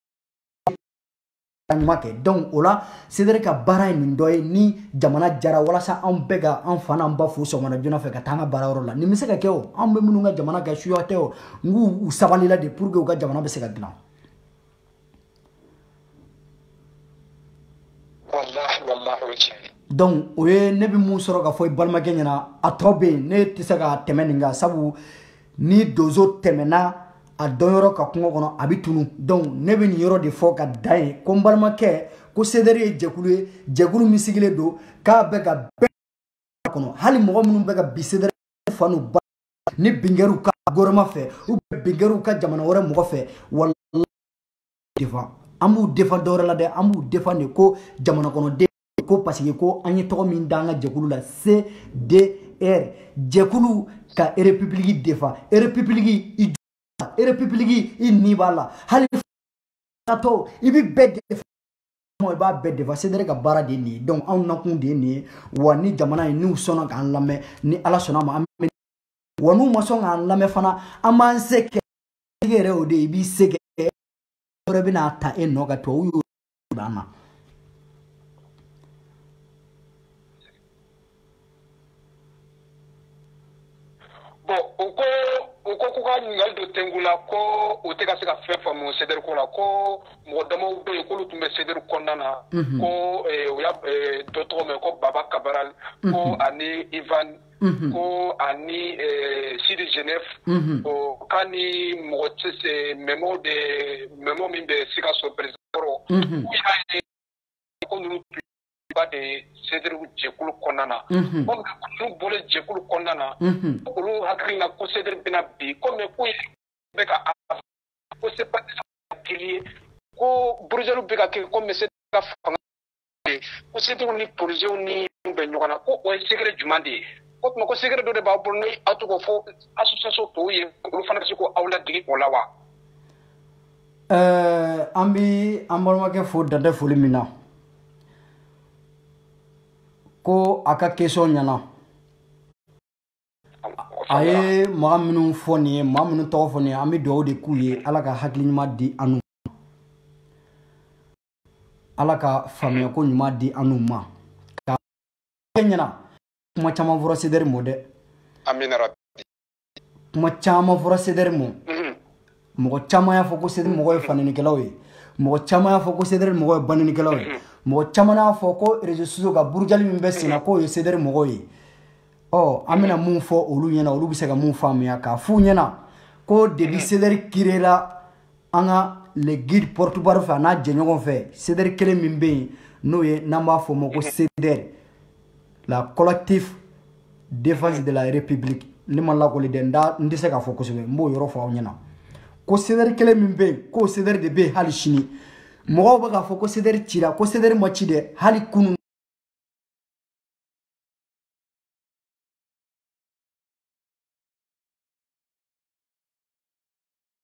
[SPEAKER 1] ɲuman kɛ donc o la sedere ka baara ye nin dɔ ye ni jamana diyara walasa anw bɛɛ ka an fa n'an ba fo sɔgɔmada joona fɛ ka taa an ka baara yɔrɔ la nin bɛ se ka kɛ o anw bɛ minnu ka jamana kɛ suya tɛ o nk'u u sabalila de pour que u ka jamana bɛ se ka dilan donc o ye ne bɛ mun sɔrɔ ka fɔ i balimakɛ ɲɛna a tɔ bɛ yen ne tɛ se ka tɛmɛ nin kan sabu ni donso tɛmɛna a dɔnyɔrɔ kan kungo kɔnɔ a bɛ tunun donc ne bɛ nin yɔrɔ de fɔ ka da yen ko n balimakɛ ko sedɛri ye jɛkulu ye jɛkulu min sigilen don k'a bɛ ka bɛɛ kɔnɔ hali mɔgɔ minnu bɛ ka bin sedɛri fa n'u ba ni bin kɛr'u kan gouvernement fɛ ou bien bin kɛr'u kan jamana wɛrɛ mɔgɔ fɛ wala defan an b'u defan dɔwɛrɛ la dɛ an b'u defan de ko jamana kɔnɔden ko paseke ko an ye tɔgɔ min da an ka jɛkulu la cdr jɛkulu ka erepipiliki defan erepipiliki i erepipiliki i ni b'a la hali tɔ i bɛ bɛɛ defan i b'a bɛɛ defan cdr ka baara de ye nin ye donc anw nakun de ye nin ye wa ni jamana ye n'u sɔnna k'an lamɛn ni ala sɔnn'a ma an bɛ wa n'u ma sɔn k'an lamɛn fana an b'an se kɛ yɛrɛ o de ye i b'i se kɛ wɛrɛ bɛna ta e nɔ ka tubabu dan
[SPEAKER 2] na bon u ko u ko k'u ka ɲininkali don tengu la ko u tɛ ka se ka fɛn faamu sederi ko la ko mɔgɔ damaw bɛ yen k'olu tun bɛ sederi kɔnɔna na ko eh, u y'a eh, dɔ tɔgɔ mɛn ko baba cabral ko ani ivan ko ani sidi genève o k'ani mɔgɔ cɛ memo de memo min bɛ sikaso president ko ninnu de ye sederi jɛkulu kɔnɔna na ko ninnu bɔlen jɛkulu kɔnɔna na olu hakili na ko sederi bɛna bin ko mɛ ko bɛ ka ko se ye ko burujali bɛ ka kɛ ko mɛ se ka fanga ko sederi ni polisiw ni bɛ ɲɔgɔn na ko o ye secret jumɛn de ye o tuma ko secret dɔ de b'aw bolo ni aw tun k'o fɔ association tɔw ye olu fana bɛ se ka aw ladege o la wa ɛɛ
[SPEAKER 1] an bɛ an balimakɛ fo dantɛ foli min na ko a ka question ɲɛna a ye maa minnu fɔ nin ye maa minnu tɔgɔ fɔ nin ye an bɛ dugawu de k'u ye ala ka hakili ɲuman di an n'u ala ka faamuya ko ɲuman di an n'u ma ka ɲɛna kuma caman fɔra sedɛri ma dɛ amina rabi kuma caman fɔra sedɛri ma mhm. mɔgɔ caman y'a fɔ ko sedɛri mɔgɔw ye fanenikɛlaw ye mɔgɔ caman y'a fɔ ko sedɛri mɔgɔw ye banenikɛlaw ye mhm. mɔgɔ caman y'a fɔ ko réseaux sociaux ka burujali min bɛ senna mhm. k'o ye sedɛri mɔgɔw ye ɔ an bɛna mun fɔ olu ɲɛna olu bɛ se ka mun faamuya k'a f'u ɲɛna ko depuis sedɛri kirela an ka le guide porte-parole fɛ a n'a jɛɲɔgɔn fɛ sedɛri kelen min bɛ yen n'o ye n'an b'a fɔ o ma ko sedɛri la collectif défense de la république ne ma lakɔli dɛ n tɛ se k'a fɔ kosɛbɛ n b'o yɔrɔ fɔ aw ɲɛna ko sedɛri kelen min bɛ yen k'o sedɛri de bɛ yen hali sini mɔgɔw bɛ k'a fɔ ko sedɛri cira ko sedɛri ma ci dɛ hali kunun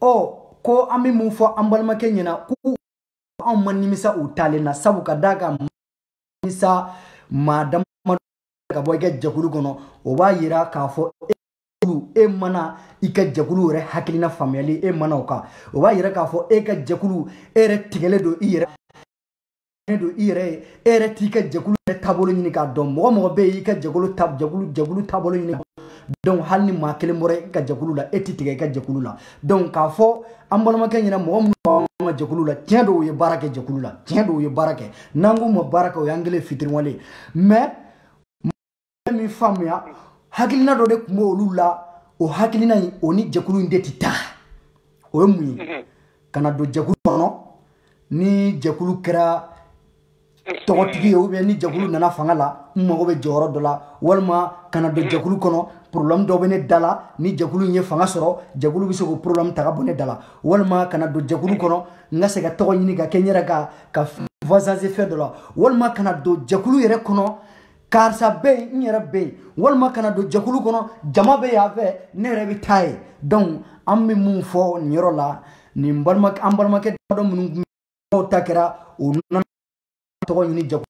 [SPEAKER 1] ɔ ko an bɛ mun fɔ an balimakɛ ɲɛna ko anw ma nimisa u taalen na sabu ka d'a kan nimisa maa dama ka bɔ i ka jɛkulu kɔnɔ o b'a yira k'a fɔ e e ma na i ka jɛkulu yɛrɛ hakilina faamuyali e ma na o kan o b'a yira k'a fɔ e ka jɛkulu e yɛrɛ tigɛlen don i yɛrɛ ne don i yɛrɛ ye e yɛrɛ t'i ka jɛkulu yɛrɛ taabolo ɲini k'a dɔn mɔgɔ mɔgɔ bɛ yen i ka jɛkulu ta jɛkulu jɛkulu taabolo ɲini donc hali ni maa kelen bɔra i ka jɛkulu la e ti tigɛ i ka jɛkulu la donc k'a fɔ an balimakɛ ɲɛna mɔgɔ minnu b'an ka jɛkulu la tiɲɛ don u ye baara kɛ jɛkulu la tiɲɛ don u ye baara kɛ n'an k'u ma baara kɛ o y'an kɛlen ye fitiriwale ye mais min faamuya hakilina dɔ de tun bɛ olu la o hakilina in o ni jɛkulu in de tɛ taa o ye mun ye ka na don jɛkulu kɔnɔ ni jɛkulu kɛra tɔgɔtigi ye ou bien ni jɛkulu nana fanga la n mago bɛ jɔyɔrɔ dɔ la walima ka na don jɛkulu kɔnɔ problème dɔ bɛ ne da la ni jɛkulu in ye fanga sɔrɔ jɛkulu bɛ se k'o problème ta ka bɔ ne da la walima ka na don jɛkulu kɔnɔ n ka se ka tɔgɔ ɲini ka kɛ n yɛrɛ ka ka voisance fɛn dɔ la walima ka na don jɛkulu yɛrɛ kɔnɔ karisa bɛ yen n yɛrɛ bɛ yen walima ka na don jɛkulu kɔnɔ jama bɛ yan fɛ ne yɛrɛ bɛ taa yen donc an bɛ mun fɔ nin yɔrɔ la nin balima an balimakɛ damadɔ minnu ta kɛra o nana tɔgɔ ɲini jɛkulu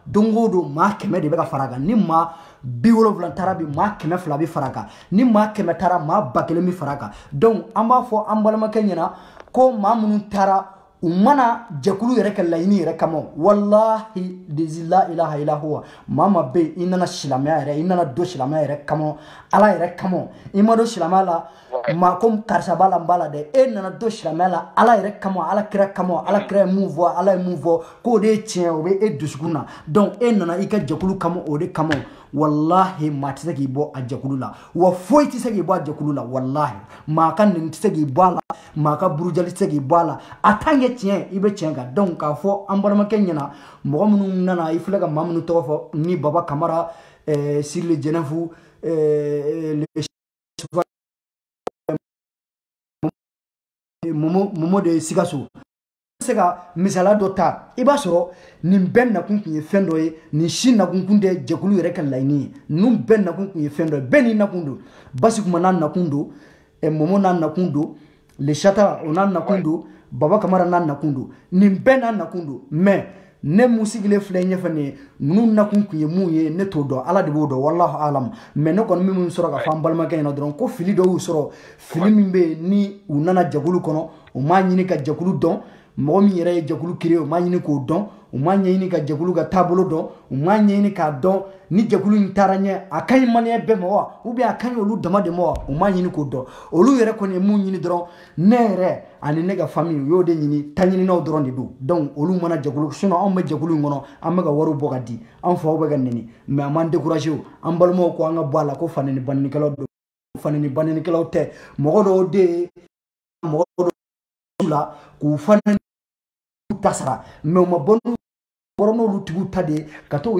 [SPEAKER 1] don o don maa kɛmɛ de bɛ ka fara kan ni maa bi wolonwula taara bi maa kɛmɛ fila bɛ fara kan ni maa kɛmɛ taara maa ba kelen bɛ fara kan donc an b'a fɔ an balimakɛ ɲɛna ko maa minnu taara u ma na jɛkulu yɛrɛ ka laɲini yɛrɛ kama walahi lazi la ilaha ila huwa maa ma bɛ yen i nana silamɛya yɛrɛ i nana don silamɛya yɛrɛ kama ala yɛrɛ kama i ma don silamɛya la maa ko karisa b'a la n b'a la dɛ e nana don silamɛya la ala yɛrɛ kama ala kira kama ala kira ye mun fɔ ala ye mun fɔ k'o de ye tiɲɛ o bɛ e dusukun na donc e nana i ka jɛkulu kama o de kama walahi maa tɛ se k'i bɔ a jɛkulu la wa foyi tɛ se k'i bɔ a jɛkulu la walahi maa ka nɛni tɛ se k'i bɔ a la maa ka burujali tɛ se k'i bɔ a la a tant que tiɲɛ i bɛ tiɲɛ kan donc k'a fɔ an balimakɛ ɲɛna mɔgɔ minnu nana i filɛ ka maa minnu tɔgɔ fɔ ni baba kamara eh, sirili jɛnɛfu eh, momo de sikaso se ka misala dɔ ta i b'a sɔrɔ nin bɛɛ nakun kun ye fɛn dɔ ye nin si nakun kun tɛ jɛkulu yɛrɛ ka laɲini ye ninnu bɛɛ nakun kun ye fɛn dɔ ye bɛɛ n'i nakun don basi kuma n'a nakun don eh, momo n'a nakun don le chata o n'a nakun don baba kamara n'a nakun don nin bɛɛ n'a nakun don mais ne mun sigilen filɛ ɲɛfɛ nin ye ninnu nakun kun ye mun ye ne t'o dɔn ala de b'o dɔn walahu alam mais ne kɔni bɛ min sɔrɔ ka fɔ an balimakɛ ɲɛna dɔrɔn ko fili dɔ y'u sɔrɔ fili min bɛ yen ni u nana jɛkulu kɔnɔ u m'a ɲini ka jɛkulu dɔn mɔgɔ min yɛrɛ ye jɛkulu créé u m'a ɲini k'o dɔn u m'a ɲɛɲini ka jɛkulu ka taabolo dɔn u m'a ɲɛɲini k'a dɔn ni jɛkulu in taara ɲɛ a ka ɲi maliyɛn bɛɛ ma wa ou bien a ka ɲi olu dama de ma wa u m'a ɲini k'o dɔn olu yɛrɛ kɔni ye mun ɲini dɔrɔn ne yɛrɛ ani ne ka famille u y'o de ɲini taɲininaw dɔrɔn de don donc olu mana jɛkulu sinon anw bɛ jɛkulu in kɔnɔ an bɛ ka wariw bɔ ka di an faw bɛ ka neni mais an m'an découragé o an balimaw ko an ka bɔ a la ko faneni banenikɛlaw don faneni banenikɛlaw tɛ mɔgɔ dɔw de ye mɔgɔ dɔw la k'u faneni ta sara mais u ma bɔ n'u bɔra n'olu tigiw ta de ye ka to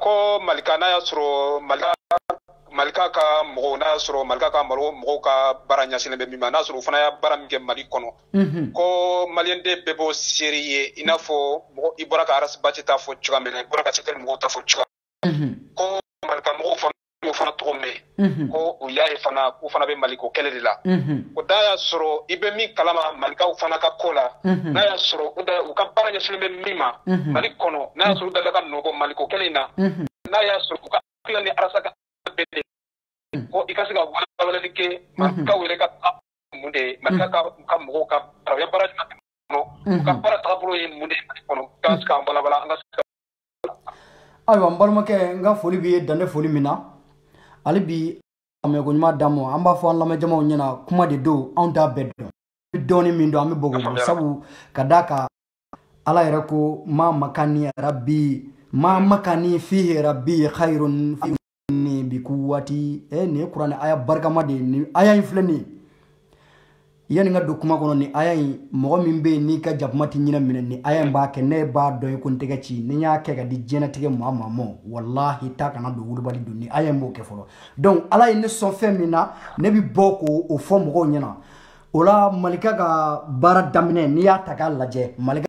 [SPEAKER 2] ko malika n'a y'a sɔrɔ malika ka mɔgɔw n'a y'a sɔrɔ malika ka mɔgɔw ka baara ɲɛsinnen bɛ min ma n'a sɔrɔ u fana y'a baara min kɛ mali kɔnɔ mhm. ko maliyɛnden bɛɛ b'o seere ye i n'a fɔ mɔgɔ i bɔra ka arasibati ta fɔ cogoya min na i bɔra ka cdr mɔgɔw ta fɔ cogoya mhm. ko malika mɔgɔw fana o fana tɔgɔ mɛn mhm. ko u y'a ye fana k'u fana bɛ maliko kɛlɛ de la mhm. o n'a y'a sɔrɔ i bɛ min kalama malikaw fana ka ko la mhm. n'a y'a sɔrɔ u ka baara ɲɛsinnen bɛ min ma mali kɔnɔ n'a y'a sɔrɔ u dala ka nɔgɔ maliko kɛlɛ in na n'a y'a sɔrɔ u ka hakilila ni arasa ka bɛn de ko i ka se ka walawalali kɛ malikaw yɛrɛ ka mun de ye malika ka mɔgɔw ka baara ɲuman kɔnɔ u ka baara taabolo ye mun de ye mali kɔnɔ k'an se k'a walawala an ka se ka ayiwa
[SPEAKER 1] n balimakɛ n ka foli b'i ye dan tɛ foli min na hali bi a mɛnko ɲuman d'an ma an b'a fɔ an lamɛnjamaw ɲɛna kuma de don anw t'a bɛɛ dɔn an bɛ dɔɔni min dɔn an bɛ o kofɔ sabu ka d'a kan ala yɛrɛ ko ma makani rabi ma makani fihi rabi khayrun ni bi quwwati eh, nin ye kuranɛ aya barikama de ye nin aya in filɛ nin ye yanni ka don kuma kɔnɔ nin aya in mɔgɔ min bɛ yen n'i ka jakuma tɛ ɲinɛ minɛ nin aya in b'a kɛ ne b'a dɔn ye ko n tɛgɛ ci ni n y'a kɛ ka di diɲɛnatigɛ maa maa ma walahi ta kana don wulibali don nin aya in b'o kɛ fɔlɔ donc ala ye ne sɔn fɛn min na ne bɛ bɔ k'o fɔ mɔgɔw ɲɛna o la malika ka baara daminɛ n'i y'a ta k'a lajɛ malika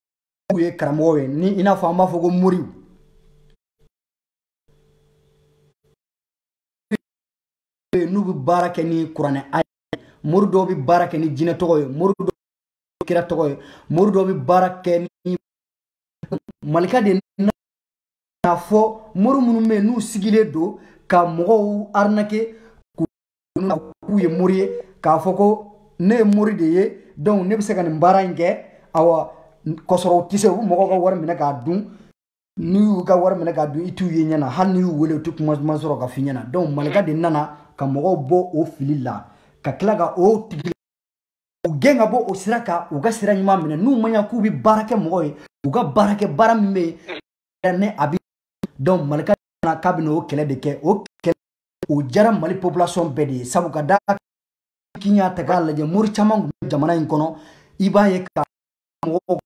[SPEAKER 1] u ye karamɔgɔ ye ni i n'a fɔ an b'a fɔ ko moriw n'u bɛ baara kɛ ni kuranɛ aya ye mori dɔw bɛ baara kɛ ni jinɛ tɔgɔ ye mori dɔw bɛ kira tɔgɔ ye mori dɔw bɛ baara kɛ ni malika de k'a fɔ mori minnu bɛ yen n'u sigilen don ka mɔgɔw arnaquer k'u ye mori ye k'a fɔ ko ne ye mori de ye donc ne bɛ se ka nin baara in kɛ awa k'a sɔrɔ u tɛ se u bɛ mɔgɔw ka wari minɛ k'a dun n'u y'u ka wari minɛ k'a dun i t'u ye ɲɛ na hali n'i y'u wele u tɛ kuma duman sɔrɔ ka f'i ɲɛna donc malika de nana ka mɔgɔw bɔ o fili la ka tila ka o tigiw gɛn ka bɔ o sira kan u ka sira ɲuman minɛ n'u ma ɲa k'u bɛ baara kɛ mɔgɔ ye u ka baara kɛ baara min bɛ yen ne a bɛ donc malika nana k'a bɛna o kɛlɛ de kɛ o kɛlɛ o diyara mali population bɛɛ de ye sabu ka d'a kan n'i y'a ta k'a lajɛ mori caman tun bɛ jamana in kɔnɔ i b'a ye ka mɔgɔ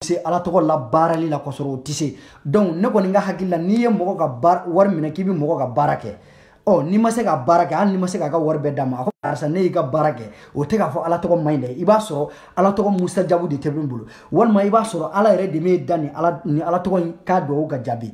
[SPEAKER 1] se ala tɔgɔ la baarali la k'a sɔrɔ o tɛ se donc ne kɔni ka hakili la n'i ye mɔgɔ ka wari minɛ k'i bɛ mɔgɔ ka baara kɛ ɔ n'i ma se ka baara kɛ hali n'i ma se k'a ka wari bɛɛ d'a ma a ko karisa ne y'i ka baara kɛ o tɛ k'a fɔ ala tɔgɔ man ɲi dɛ i b'a sɔrɔ ala tɔgɔ musajabu de tɛ min bolo walima i b'a sɔrɔ ala yɛrɛ de bɛ da ni ala tɔgɔ in k'a dugawu ka jaabi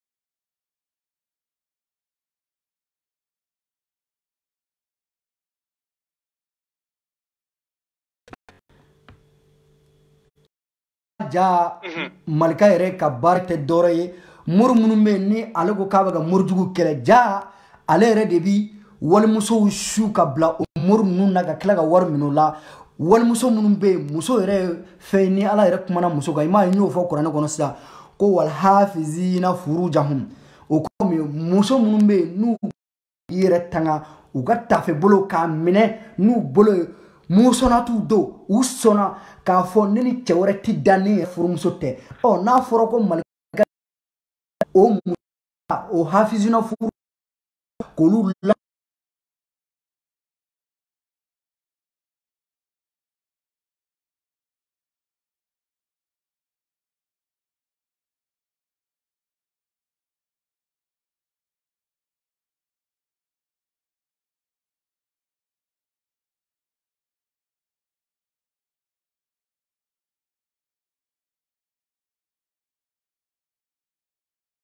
[SPEAKER 1] ja malika yɛrɛ ka baara tɛ dɔwɛrɛ ye mori minnu bɛ ni ale ko k'a bɛ ka morijugu kɛlɛ ja ale yɛrɛ de bi walimusow su ka bila o mori ninnu na ka tila ka wari minɛ o la walimuso minnu bɛ yen muso yɛrɛ ye fɛn ni ala yɛrɛ kumana muso kan i m'a ye n y'o fɔ kuranɛ kɔnɔ sisan ko walhafizina furujahum o kɔrɔ min muso minnu bɛ yen n'u yɛrɛ tanga u ka tafe bolo k'a minɛ n'u bolo ye mun sɔnna t'u don u sɔnna k'a fɔ ne ni cɛ wɛrɛ ti da ni furumuso tɛ ɔ n'a fɔra ko mali o o hafizina furu k'olu la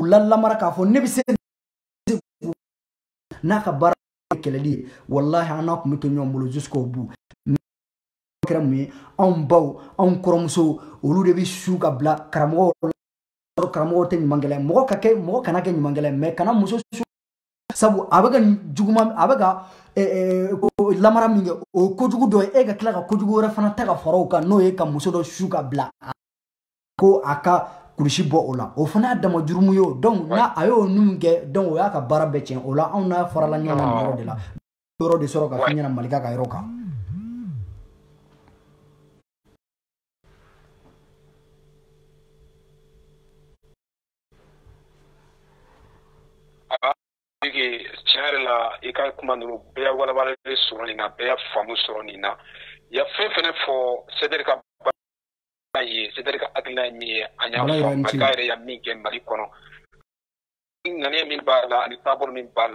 [SPEAKER 1] u lalamara k'a fɔ ne bɛ se n'a ka baara kɛlɛli ye walahi an n'a tun bɛ to ɲɔgɔn bolo jusqu'au bout kɛra mun ye anw baw anw kɔrɔmusow olu de bɛ su ka bila karamɔgɔw karamɔgɔw tɛ ɲuman kɛlɛ mɔgɔ ka kɛ mɔgɔ kana kɛ ɲuman kɛlɛ mais kana muso su sabu a bɛ ka juguman a bɛ ka lamara min kɛ o ye kojugu dɔ ye e ka tila ka kojugu wɛrɛ fana ta ka fara o kan n'o ye ka muso dɔ su ka bila ko a ka kurusi bɔ o la o fana y'a dama jurumu ye o donc n'a a y'o ninnu kɛ donc o y'a ka baara bɛɛ tiɲɛ o la anw n'a farala ɲɔgɔn na yɔrɔ de la yɔrɔ de sɔrɔ ka fɛn ɲɛna malika ka yɔrɔ kan
[SPEAKER 2] tiɲɛ yɛrɛ la i ka kuma ninnu bɛɛ y'a walawalalen sɔrɔ nin na bɛɛ y'a faamu sɔrɔ nin na y'a fɛn fɛnɛ fɔ sɛdɛri ka Ayi ye sɛdɛri ka hakilina ye min ye an y'a yɛrɛ yan min kɛ mali kɔnɔ ŋaniya min b'a la ani taabolo min b'a la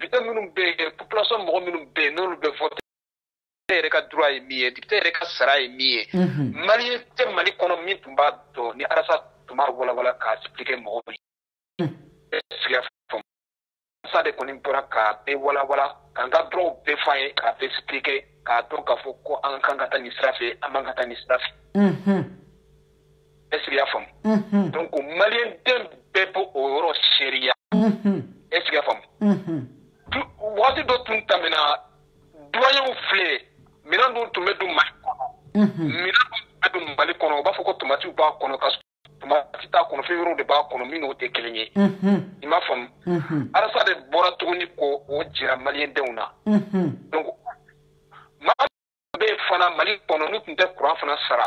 [SPEAKER 2] député minnu bɛ yen population mɔgɔ minnu bɛ yen n'olu bɛ vote yɛrɛ ka droit ye min ye député yɛrɛ ka sara ye min ye maliyɛn tɛ mali kɔnɔ min tun b'a dɔn ni arasa tun b'a walawala k'a expliquer mɔgɔw ye est-ce que y'a faamu sa de kɔni bɔra k'a bɛɛ walawala k'an ka droit bɛɛ fɔ an ye k'a bɛɛ expliquer k'a dɔn k'a fɔ ko an kan ka taa nin sira fɛ an man ka taa nin sira fɛ est-ce que y'a faamu donc maliyɛn den bɛɛ bɛ o yɔrɔ seereya est-ce que y'a faamu waati dɔ tun tɛmɛna duwayew filɛ minɛn dɔ tun bɛ don ma minɛn dɔ tun bɛ don mali kɔnɔ u b'a fɔ ko tomati b'a kɔnɔ ka tomati t'a kɔnɔ fɛn wɛrɛw de b'a kɔnɔ min n'o tɛ kelen ye i m'a faamu arasa de bɔra tuguni k'o jira maliyɛndenw na donc maa bɛ fana mali kɔnɔ n'u tun tɛ kuran fana sara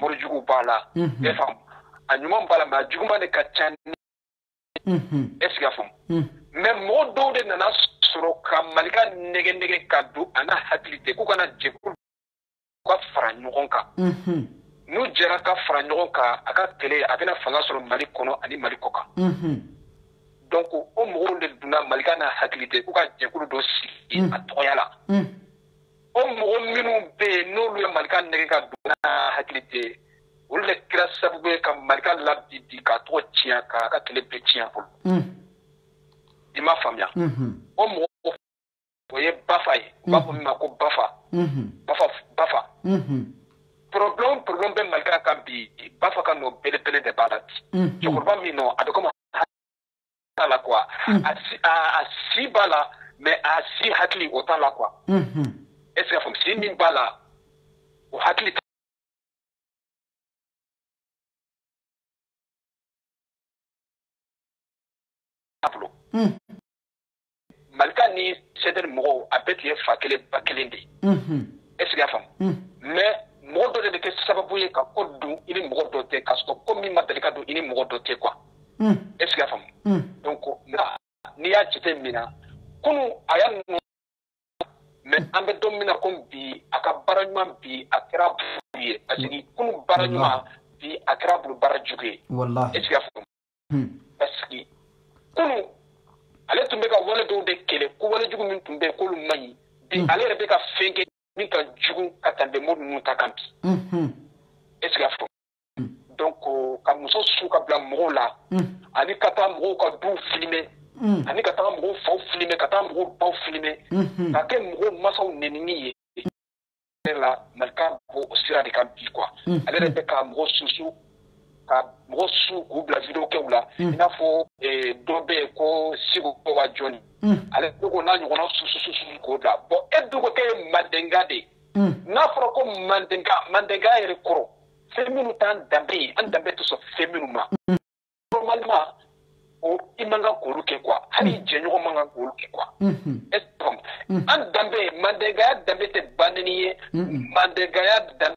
[SPEAKER 2] morijugu b'a la e faamu a ɲuman b'a la mais a juguman de ka ca est ce que a faamu mais mɔgɔ dɔw de nana sɔrɔ ka malika nɛgɛ nɛgɛ ka don a n'a hakili tɛ k'u kana jɛ k'olu ka fara ɲɔgɔn kan n'u jɛra ka fara ɲɔgɔn kan a ka kɛlɛ a bɛna fanga sɔrɔ mali kɔnɔ ani mali kɔkan donc o mɔgɔw de donna malika n'a hakili tɛ k'u ka jɛkulu dɔ sigi a tɔgɔya la o mɔgɔ minnu bɛ yen n'olu ye malika nɛgɛ ka don n'a hakili tɛ olu de kɛra sababu ye ka malika labin bi k'a tɔgɔ tiɲɛ k'a ka kɛlɛ bɛɛ tiɲɛ a bolo hmm. i m'a faamuya hmm. o mɔgɔ o ye bafa ye u b'a fɔ min ma ko bafa bafa bafa problème problème bɛ malika kan bi bafa ka nɔ belebele de b'a la bi cɛkɔrɔba min nɔ a bɛ komi t'a la quoi a si b'a la mais a si hakili o t'a la quoi est ce que faamu si min b'a la o hakili malika ni CDR mɔgɔw a bɛɛ tun ye fa kelen ba kelen de ye est ce que a faamu mais mɔgɔ dɔ de bɛ kɛ sababu ye ka ko don i ni mɔgɔ dɔ tɛ k'a sɔrɔ ko min ma deli ka don i ni mɔgɔ dɔ tɛ quoi est ce que a faamu donc n'i y'a jate minɛ kunu a y'a mais an bɛ don min na komi bi a ka baara ɲuman bi a kɛra bulu ye parce que kunu baara ɲuman bi a kɛra bulu baara jugu ye est ce que y'a faamu hmm. parce que kunu ale tun bɛ ka wale dɔw de kɛlɛ ko wale jugu min tun bɛ yen k'olu man ɲi bi hmm. ale yɛrɛ bɛ ka fɛn kɛ min ka jugu ka tɛmɛ mɔgɔ ninnu ta kan bi hmm, est ce que y'a faamu donc ka muso su ka bila mɔgɔw la ani ka taa mɔgɔw ka du filime ani ka taa mɔgɔw faw filime ka taa mɔgɔw baw filime ka kɛ mɔgɔw masaw nenini ye la malika b'o sira de kan bi quoi ale yɛrɛ bɛ ka mɔgɔ susu ka mɔgɔ su k'u bila vidéo kɛw la i n'a fɔ dɔ bɛ yen ko sigo wa jɔni ale ko n'a ɲɔgɔnna susu k'o bila bon e dun ko k'e ye mandenka de n'a fɔra ko mandenka mandenka yɛrɛ kɔrɔ fɛn minnu t'an danbe ye an danbe tɛ sɔn fɛn minnu ma normalement o i man kan k'olu kɛ quoi hali i jɛɲɔgɔn man kan k'olu kɛ quoi est ce que an danbe mandenkaya danbe tɛ banni ye mandenkaya danbe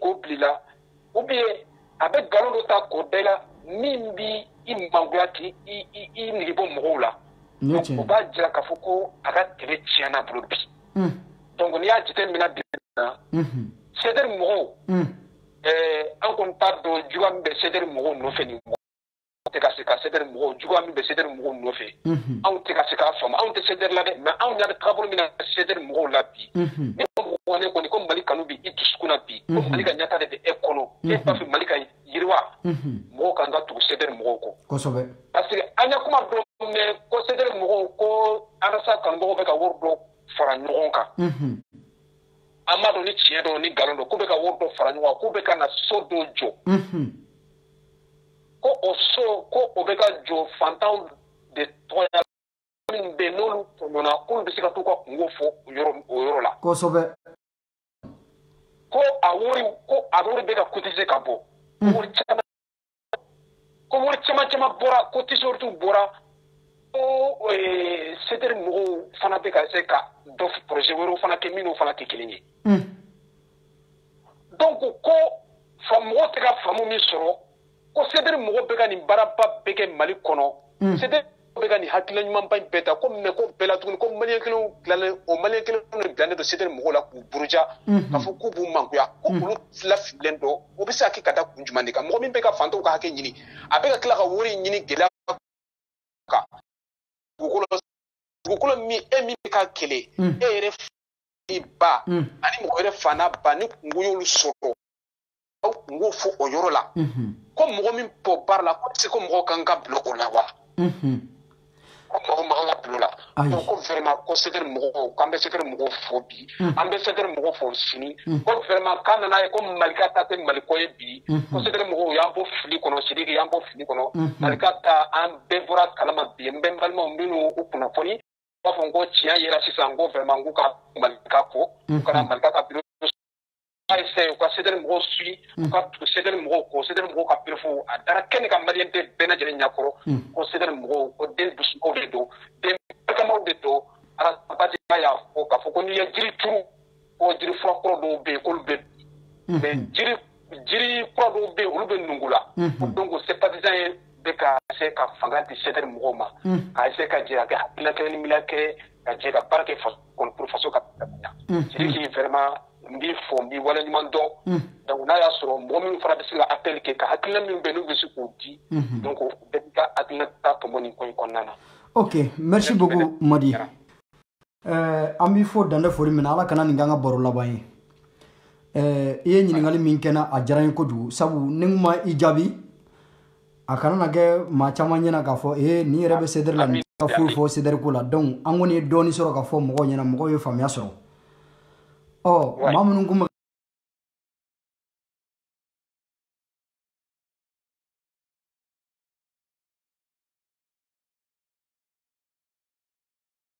[SPEAKER 2] k'o bila i la ou bien a bɛ nkalon dɔ ta k'o da i la min b'i mangoya k'i nege bɔ mɔgɔw la o b'a jira k'a fɔ ko a ka tɛmɛ tiɲɛn'a bolo bi hmm. donc n'i y'a jateminɛ bi na sederi mɔgɔw an kɔni t'a dɔn juguya min bɛ sederi mɔgɔw nɔfɛ nin tɛ ka se ka sederi mɔgɔw juguya min bɛ sederi mɔgɔw nɔfɛ anw tɛ ka se k'a faamu anw tɛ sederi la dɛ mais anw ɲɛ bɛ taabolo min na sederi mɔgɔw la bi ne ko ne kɔni ko mali kanu bɛ i dusukun na bi ko mali ka ɲɛtaa de bɛ e kɔnɔ e b'a fɛ mali ka yiriwa mɔgɔw kan ka tugu sederi mɔgɔw kɔ kosɛbɛ parce que an ye kuma dɔ mɛn ko sederi mɔgɔw ko arasa kanubagaw bɛ ka wari dɔ fara ɲɔgɔn kan an m'a dɔn ni tiɲɛ don ni nkalon don k'u bɛ ka wari dɔ fara ɲɔgɔn kan k'u bɛ ka na so dɔ jɔ ko o so ko o bɛ ka jɔ fantanw de tɔgɔ la minnu bɛ yen n'olu tɔɲɔna k'olu bɛ se ka t'u ka kungo fɔ o yɔrɔ o yɔrɔ la. kosɛbɛ. ko a wari ko a wari bɛ ka cotiser ka bɔ. Hmm. wari caman ko wari caman caman bɔra ko tisoritiw bɔra ko eh, sederi mɔgɔw fana bɛ ka se ka dɔ projet wɛrɛw fana kɛ minnu fana tɛ kelen ye. Hmm. donc ko fa mɔgɔ tɛ ka faamu min sɔrɔ ko sederi mɔgɔw bɛ ka nin baaraba bɛɛ kɛ mali kɔnɔ mm. sederi bɛ ka nin hakilila ɲumanba in bɛɛ ta ko mais ko bɛɛ la tuguni ko maliyɛn kelenw bilalen o maliyɛn kelenw de bilalen don sederi mɔgɔw la k'u buruja mm-hmm. k'a fɔ k'u b'u mangoya ko mm-hmm. olu lafililen don o bɛ se ka kɛ ka da kun jumɛn de kan mɔgɔ min bɛ ka fantanw ka hakɛ ɲini a bɛ ka tila ka wari ɲini gɛlɛya kan dugukolo dugukolo min e min bɛ ka kɛlɛ mm. e yɛrɛ i ba mm. ani mɔgɔ wɛrɛ fa n'a ba ni kungo y'olu sɔrɔ aw kungo fɔ o yɔrɔ la mm-hmm. ko mɔgɔ min b'o baara la ko est ce que mɔgɔ kan ka bila o la wa mm-hmm. ko mɔgɔ man ka bila o la ko vraiment ko sederi mɔgɔw k'an bɛ sederi mɔgɔw fo bi mm. an bɛ sederi mɔgɔw fo sini mm. ko vraiment k'an nana ye ko malika ta tɛ maliko ye bi mm-hmm. ko sederi mɔgɔw y'an bɔ fili kɔnɔ sidiki y'an bɔ fili kɔnɔ malika ta an bɛɛ bɔr'a kalama bi n bɛ n balimaw minnu u kunnafoni b'a fɔ ko tiɲɛ yera sisan ko vraiment k'u ka malika ko u kana malika ka biro a ye sɛ u ka sederi mɔgɔw suyi u ka sederi mɔgɔw ko sederi mɔgɔw ka preuve a dara kɛnɛ kan maliyɛn den bɛɛ lajɛlen ɲɛkɔrɔ ko sederi mɔgɔw ko den dusumaw de don den barikamaw de don arabadenya y'a fɔ k'a fɔ ko n'i ye jiri turu ko jiri fura kɔrɔ dɔw bɛ yen k'olu bɛ mais jiri jiri kura dɔw bɛ yen olu bɛ nugu la donc sympathisant ye bɛ ka se ka fanga di CDR mɔgɔw ma k'a se ka jɛ a kɛ hakilina kelen ni miiriya kelen ka jɛ ka baara kɛ pour faso ka ɲa sidiki vraiment n b'i fo n b'i waleɲuman dɔn donc n'a y'a sɔrɔ mɔgɔ min fana bɛ se ka appel kɛ ka hakilina min bɛ n'u bɛ se k'o di donc bɛɛ b'i ka hakilina ta tɔmɔ nin ko in kɔnɔna na ok merci
[SPEAKER 1] beaucoup madi an b'i fo dan tɛ foli min na ala kana nin k'an ka baro laban ye i ye ɲininkali min kɛ n na a diyara n ye kojugu sabu ni n ma i jaabi a kana na kɛ maa caman ɲɛna k'a fɔ ee nin yɛrɛ bɛ CDR la nin ka foyi fɔ CDR ko la donc an kɔni ye dɔɔni sɔrɔ k'a fɔ mɔgɔw ɲɛna mɔgɔw ye faamuya sɔrɔ ɔ maa minnu kun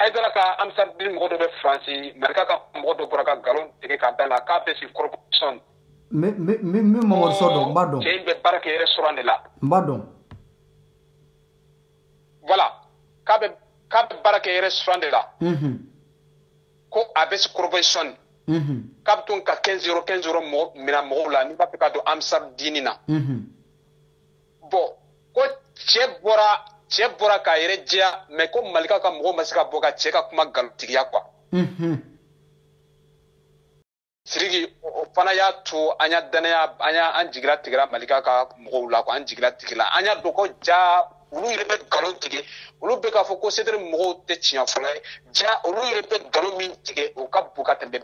[SPEAKER 2] haidara ka amsar diini mɔgɔ dɔ bɛ faransi malika ka mɔgɔ dɔ bɔra ka nkalon tigɛ ka da a la k'a bɛ si
[SPEAKER 1] corbeil-essonnes min mamadu sow dɔn n b'a dɔn cɛ in bɛ baara kɛ restaurant
[SPEAKER 2] de la n b'a dɔn voilà k'a bɛ k'a bɛ baara kɛ restaurant de la ko a bɛ si corbeil-essonnes k'a bɛ to ka 15 euro 15 euro mɔgɔ minɛ mɔgɔw la n'i b'a fɛ ka don amsar diini na bon ko cɛ bɔra cɛ bɔra k'a yɛrɛ jɛya mais ko malika ka mɔgɔw ma se ka bɔ ka cɛ ka kuma nkalontigiya quoi mhm. sidiki o fana y'a to an y'a dannaya an jigi latigɛra malika ka mɔgɔw la quoi an jigi latigɛla an y'a dɔn ko ja olu yɛrɛ bɛ nkalon tigɛ olu bɛ k'a fɔ ko CDR mɔgɔw tɛ tiɲɛfɔlaw ye ja olu yɛrɛ bɛ nkalon min tigɛ o ka bon ka tɛmɛ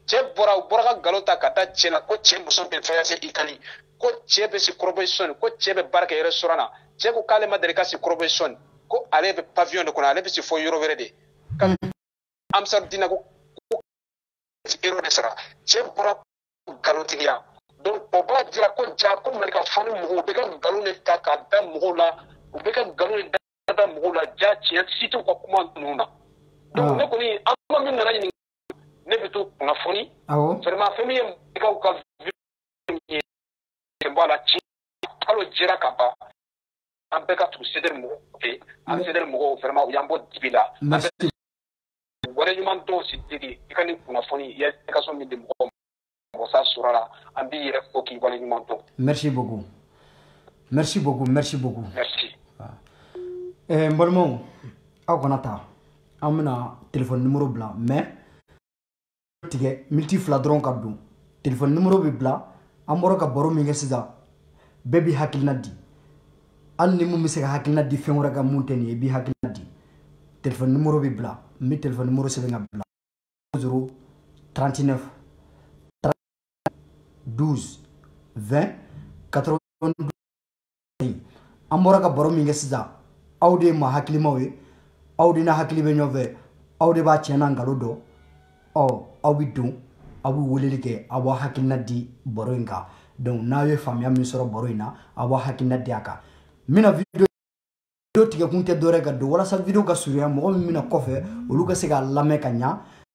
[SPEAKER 2] cɛ bɔra u bɔra ka nkalon ta ka da cɛ la ko cɛ muso bɛ fɛɛrɛse i kali ko cɛ bɛ si corbeil-essonnes ko cɛ bɛ baara kɛ restaurant na cɛ ko k'ale ma deli ka si corbeil-essonnes ko ale bɛ pavillon de kɔnɔ ale bɛ si fo yɔrɔ wɛrɛ de ka amsar diina ko euro de sara cɛ bɔra nkalontigiya donc o b'a jira ko ja ko malika fani mɔgɔw bɛ ka nkalon de ta ka da mɔgɔw la u bɛ ka nkalon de da bɛ mɔgɔw la ja tiɲɛ si t'u ka kuma ninnu na donc ne kɔni an kuma min nana ɲininka ne bɛ to kunnafoni vraiment fɛn min ye mɔgɔw ka ye bɔ a la tiɲɛ kalo jɛra ka ban an bɛɛ ka tugu CDR mɔgɔw fɛ an CDR mɔgɔw vraiment u y'an bɔ dibi la an b'u waleɲuman dɔn sidiki i ka nin kunnafoni i ye explication min di mɔgɔw ma mɔgɔsa sɔrɔ la an b'i yɛrɛ fo k'i waleɲuman
[SPEAKER 1] dɔn merci beaucoup merci beaucoup merci beaucoup merci eh, n balimaw aw kana taa an bɛna telefɔni nimoro bila mais tigɛ miniti fila dɔrɔn ka don telefɔni nimoro bɛ bila an bɔra ka baro min kɛ sisan bɛɛ b'i hakilina di hali ni mun bɛ se ka hakilina di fɛn wɛrɛ kan mun tɛ nin ye i b'i hakilina di telefɔni nimoro bɛ bila n bɛ telefɔni nimoro sɛbɛn ka bila 0 39 12 20 82 an bɔra ka baro min kɛ sisan aw de ye maa hakilimaw ye aw de n'a hakili bɛ ɲɔgɔn fɛ aw de b'a tiɲɛ n'a nkalon dɔn ɔ aw bɛ don aw bɛ weleli kɛ aw b'a hakilina di baro in kan donc n'aw ye faamuya min sɔrɔ baro in na aw b'a hakilina di a kan n bɛna video video tigɛ kun tɛ dɔwɛrɛ ka don walasa video ka surunya mɔgɔ min bɛ na kɔfɛ olu ka se k'a lamɛn ka ɲa